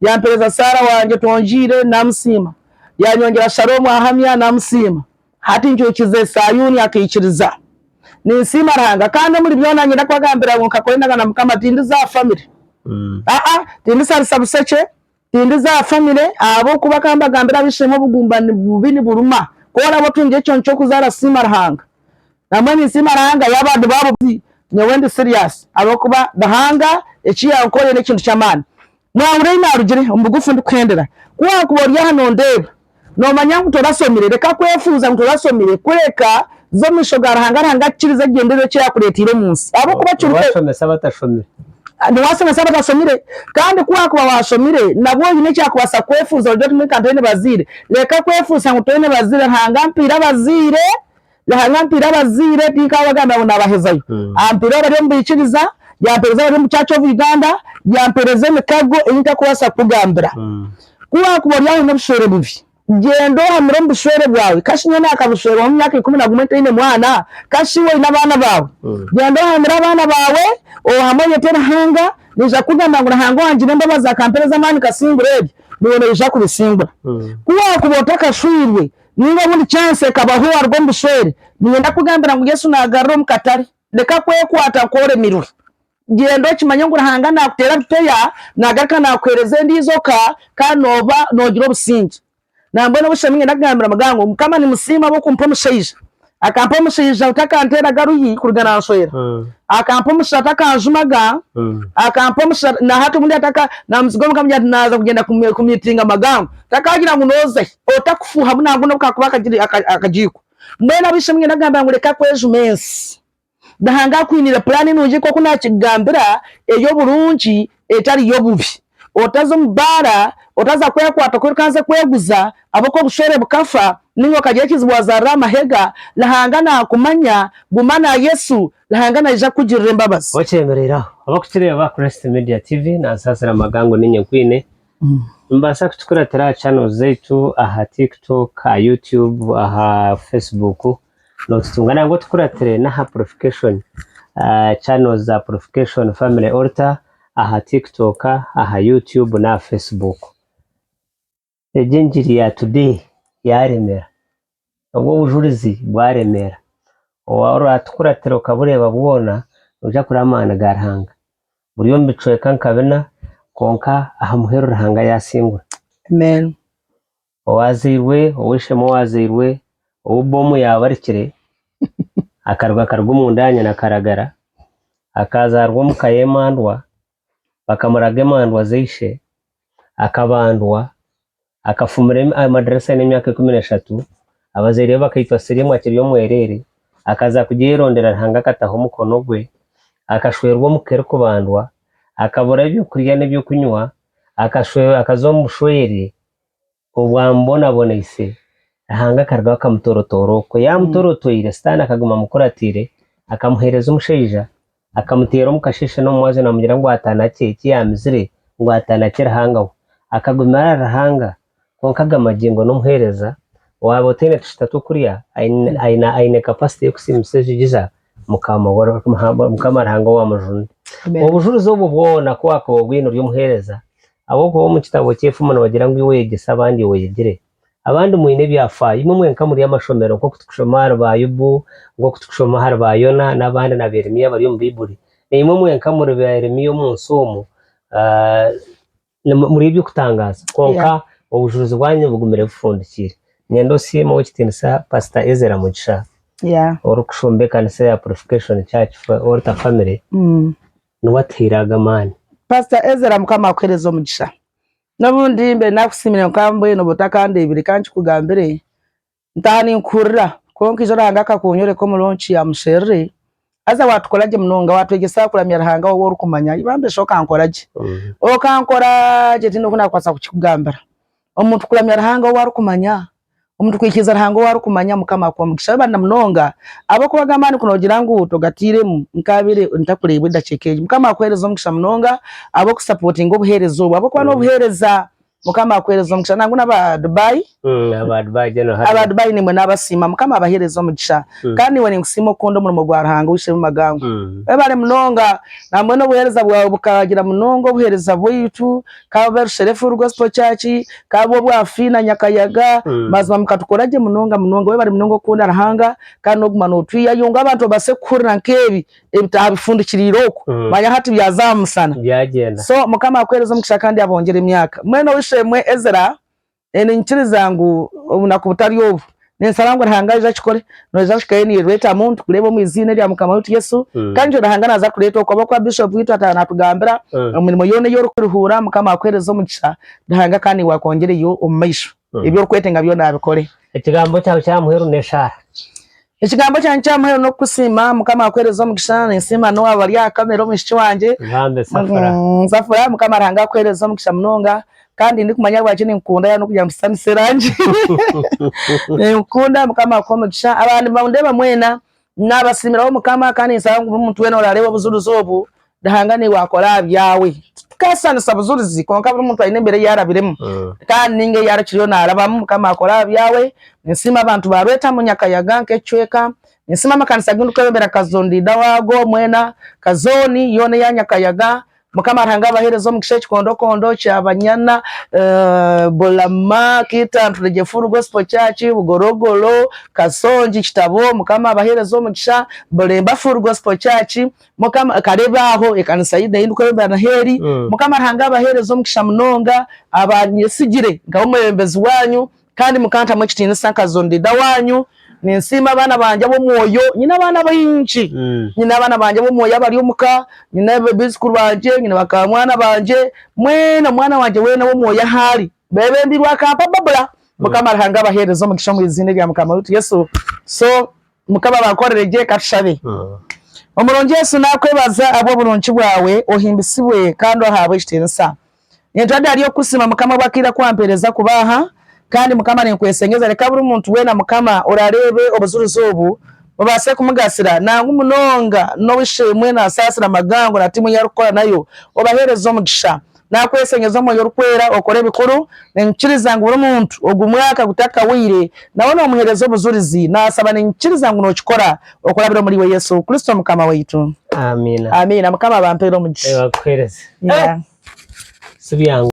Yampereza Saara wangye, Tongiire, naamusiima, Yanyongyera Shaloomu ahamya, naamusiima, Hati ncuukize Sayuuni akaikiriza. Ninsiima Ruhanga, kandi omuri byona niinyenda kubagambira ngu nkakora endagaano na Mukama, tindiza aha famire, aa-a, tindisharisa bushekye, tindiza aha famire, ahabw'okuba ka mbagambire ab'eishe-emwe, obugumbani bubi niburuma, ku oraabe otungireho ekyondo ky'okuzaara, siima Ruhanga. Nambwa ninsiima Ruhanga yaaba ndi baabo baitu nyowe ndi serious ahabw'okuba Ruhanga eki yankorire n'ekintu ky'amaani. Mwahurira ei naarugire omu bugufu ndikuhendera? Ku waakuba ori aha noondeeba, noomanya ngu torasomire, reka kwefuuza ngu torasomire, kureka za omu maisho ga Ruhanga, Ruhanga akukirize genda oihe eki yaakureeteire omu nsi. Ahabw'okuba kiri kwe. Niwaashomesa abatashomire. Niwaashomesa abatashomire. Kandi ku waakuba waashomire, nabwo oine eki yaakubaasa kwefuuza, ogira oti, Nkaaba ntaine bazaire. Reka kwefuusa ngu toine bazaire, Ruhanga ampiire abazaire Yahanga antiire abazaire tinkaabo bagambira ngu naabahezayo. Ampeereza abari omu baikiriza, yampeereza abari omu Church of Uganda, yampeereza emikago ei ntarikubaasa kukugambira. Ku waakuba ori aho oine obushwere bubi, gyenda ohamire omu bushwere bwawe. Ka shi nyowe naakabushwerwamu emyaka ikumi na gumwe ntaine mwana? Ka shi iwe oine abaana baawe? Gyenda ohamire abaana baawe, ohame oyete Ruhanga. Naija kukugambira ngu Ruhanga owangire embabazi akampeereza amaani nkasingura ebyo, niiwe noija kubisingura. Ku waakuba otakashwirwe, Ninga obundi chance ekabaho waruga omu bushwere. Niinyenda kukugambira ngu Yesu naagarura omu katare. Leka kwekwata nku oremirwe. Gyenda okimanye ngu Ruhanga naakuteera bipeya, naagaruka naakuheereza endiijo ka, kandi nooba noogira obusingye. Nambwenu obushemereire niinyenda kugambira Muganga ngu, Mukama nimusiima ahabw'okumpa omushaija. Akampa omushaija nka akanteeraga ruhi kuruga nansweera Akampa omushaija nka akanjumaga Akampa omushaija nka nahati obundi ataka namuziga omuka amugira nti naza kugyenda ku meetinga Magango takagira ngu nozahi otakufuuha buna buna obu kakuba akagiiko Mbwenu ab'eishe-emwe ninyenda kugambira ngu leka kwejuma ensi Ruhanga akwiniire puraani nungi nk'oku naakigambira, ey'oburungi, etari y'obubi. Otaza omu baara, otaza kwekwata oku orikubanza kweguza, ahabw'oku obushwere bukafa, nainga okagira ekizibu waazaarira aha mahega, Ruhanga naakumanya. Guma na Yesu, Ruhanga naija kukugirira embabazi. Okyemereire aho. Abakukireeba, Christ Media TV nansaasira amaga ngu niinye nkwiine. Nimubaasa kukikuratira aha channels zaitu aha Tiktok, aha YouTube, aha Facebook. Notutunga nangwa otukuratire n'aha purifikashoni channels za Purification Family Altar aha Tiktok, aha YouTube n'aha Facebook. Egi engiri ya today yaremera, obwo obujurizi bwaremera, orwatukuratira okabureeba bwona noija kureeba amaani ga Ruhanga. Buri omu bicweka nka bina kwonka aha muheru Ruhanga yasingura. Amen. owaazairwe ow'eishe-emwe owaazairwe ou bbomu yaabarikire, akaruga akaruga omunda aha nyina akaragara, akazaarwa omu ka y'emandwa, bakamuraga emandwa z'eishe, akabandwa, akafumira amadirisa aine emyaka ikumi n'eshatu, abazaire be bakaitwa Siriimu akiri omwereere, akaza kugye yayerondera Ruhanga akataho omukono gwe, akashwerwa omu ka erikubandwa, akabura eby'okurya n'eby'okunywa, akaza omu bushwere Obu amubonaboneise, Ruhanga akarugaho akamutoorotoora okwo. Yaamutoorotoire, Sitaane akaguma amukuratiire, akamuheereza omushaija, akamuteera omu kasheeshe n'omu mwazyo naamugira ngu atanakye eki yaamizire, ngu atanakye Ruhanga we. Akagumira ahari Ruhanga, kwonka agamba gye ngu n'omuheereza, waaba otaine tushita tw'okurya, aine aine capacity y'okusiimisa enjogi za Mukama Mukama Ruhanga owaamujuunire. Obujurizi obwo bwona ku waakuba obwine ori omuheereza, Ahabw'okuba omu kitabo ky'efumu nibagira ngu iwe oyegyesa abandi oweyegire. Abandi mwine ebyafaayo. Imwe mwenka muri amashomero nk'oku turikushoma ahari ba Yobu, nk'oku turikushoma ahari ba Yona n'abandi na ba Yeremia abari omu Baibuli. Naimwe mwenka muri ba Yeremia omu nsi omu. Muri eby'okutangaaza kwonka obujuurizi bwanyu nibugumire bufundikiire. Niinyenda osiime Ow'ekitiinisa Pasita Ezra Mugisha orikushumba ekanisa ya Purification Church Alter Family. niwe atuhaire ago amaani. Pastor Ezra mukama akuhereze omugisha nobundi mbe nakusimire nka mbwenu oba otakandebire kankikugambire ntaha ninkuhurira kwonka ijo ruhanga akakunyoreka omu launch ya musherure haza watukora gye munonga watwegyesa kuramya ruhanga wowe orukumanya ibambe shi okankora gye okankora gye tine oku nakubaasa kukikugambira Omuntu kuramya Ruhanga ou arikumanya Omuntu kwikiriza Ruhanga ou arikumanya Mukama akuhe omugisha w'e banda munonga ab'okuba aga amaani ku nogira ngu togatairemu nkabire ntakureebwa edakiika egi Mukama akuhereze omugisha munonga ab'oku sapotinga obuhereza obu ab'okuba n'obuhereza Mukama akuhereze omugisha nangu n'aba Dubai aba Dubai nimwe nabasiima Mukama abahereze omugisha kandi niwe ninkusiima okukunda omurimo gwa Ruhanga oishemu magango Webale munonga nambwenu obuhereza bwawe bukagira munonga obuhereza bwaitu. ka bube Rushere Full Gospel Church, ka bube obwa Fiina Nyakayaga, mazima mukatukora gye munonga munonga. Webare munonga okukunda Ruhanga kandi n'okuguma notwihayo ngu abantu babaase kuhurira nk'ebi ebitaaha bifundikiriire oku. Manya hati byaza aha musana. So Mukama akuhereze omugisha kandi abongere emyaka. Mwena ow'eishe-emwe Ezra, Ninkiriza ngu obunaku butari obu ninsaba ngu Ruhanga aije akikore noija kuhikayo nirweta muntu kureba omu iziina erya mukama waitu Yesu kandi nikyo Ruhanga naza kureta okwo ahabwokuba bishop waitu ataaha natugambira omu mirimo yoona eyi orikuruhuura mukama akuhereze omugisha Ruhanga kandi naiwe akwongyereyo omu maisho ebi orikwetenga byoona abikore. Ekigambo kyawe kya muheru n'eshaara. Ekigambo kyangye kya muheru n'okukusiima. Mukama akuhereze omugisha. Ninsiima n'obu abari aha kamera omwishiki wangye. Ngambe Safura. Mm, Safura, Mukama Ruhanga akuhereze omugisha munonga. Kandi ndikumanya ahabwaki ninkukunda yaba n'okugira ngu tusitanise erangi. Ninkukunda, Mukama akuhe omugisha. Abandi nibandeeba mwena. Naabasiimira Omukama kandi ninsaba ngu buri muntu weena oraareeba obujulizi obu, Ruhanga naiwe akore aha byawe. Titukaashuushanisa bujurizi kwonka buri muntu aine embeera ei arabiremu kandi nainga ei arikiriyo naarabamu. Mukama akore aha byawe. Ninsiima abantu ba Rwetamu Nyakayaga nk'ekicweka. Ninsiima amakanisa agu ndikweyombera Kazo Ndiida waago mwena, ka zooni yoona eya Nyakayaga. Mukama Ruhanga abaheereze omugisha ekikondokondo kya Banyana, Bulama, Kita, Nturegye Full Gospel Church, Bugorogoro, Kasongi, Kitabo. Mukama abaheereze omugisha. Bulemba Full Gospel Church. Mukama akareba aho ekanisa yi nayi ndikweyombera na heri. Mm. Mukama Ruhanga abahereze omugisha munonga abanyetsigire nkaba omwebembezi wanyu kandi mukantamu ekitinisa nkazon leader wanyu. Ninsiima abaana bangye ab'omwoyo. Nyine abaana baingi. Mm. Nyine abaana bangye ab'omwoyo abari omuka, nyine abizukuru bangye, nyine bakamwana bangye, mwena omwana wangye wena ow'omwoyo ahu ari. Bebembirwe akampa babura. Mukama Ruhanga abahereze omugisha omu iziina erya Mukama waitu Yesu. So Mukama abankorire gye. Katushabe. Omurungi Yesu nakwebaza ahabw'oburungi bwawe, ohimbisibwe kandi ohabwe ekitiinisa. Nintura ndi ahari okukusiima Mukama obw'akaire aku wampereza kuba aha, kandi Mukama ninkwesengeza reka buri muntu weena Mukama orareebe obujulizi obu bubaase kumugasira nangwa munonga n'obu isheemwe na nsaasira magango na tiimu ei arikukora nayo obahereze omugisha. Naakweshenyeza Omwoyo Orikwera okore ebikuru. Ninyikiriza ngu buri muntu ogu mwaka gutakahwaire nawe noomuheereza obujurizi. Naasaba ninyikiriza ngu nookikora okurabira omuri Iwe Yesu Kristo Mukama waitu. Amiina. Amiina. Mukama abampeere omugisha. Nyakuheereze. Yeah. Sibyangu.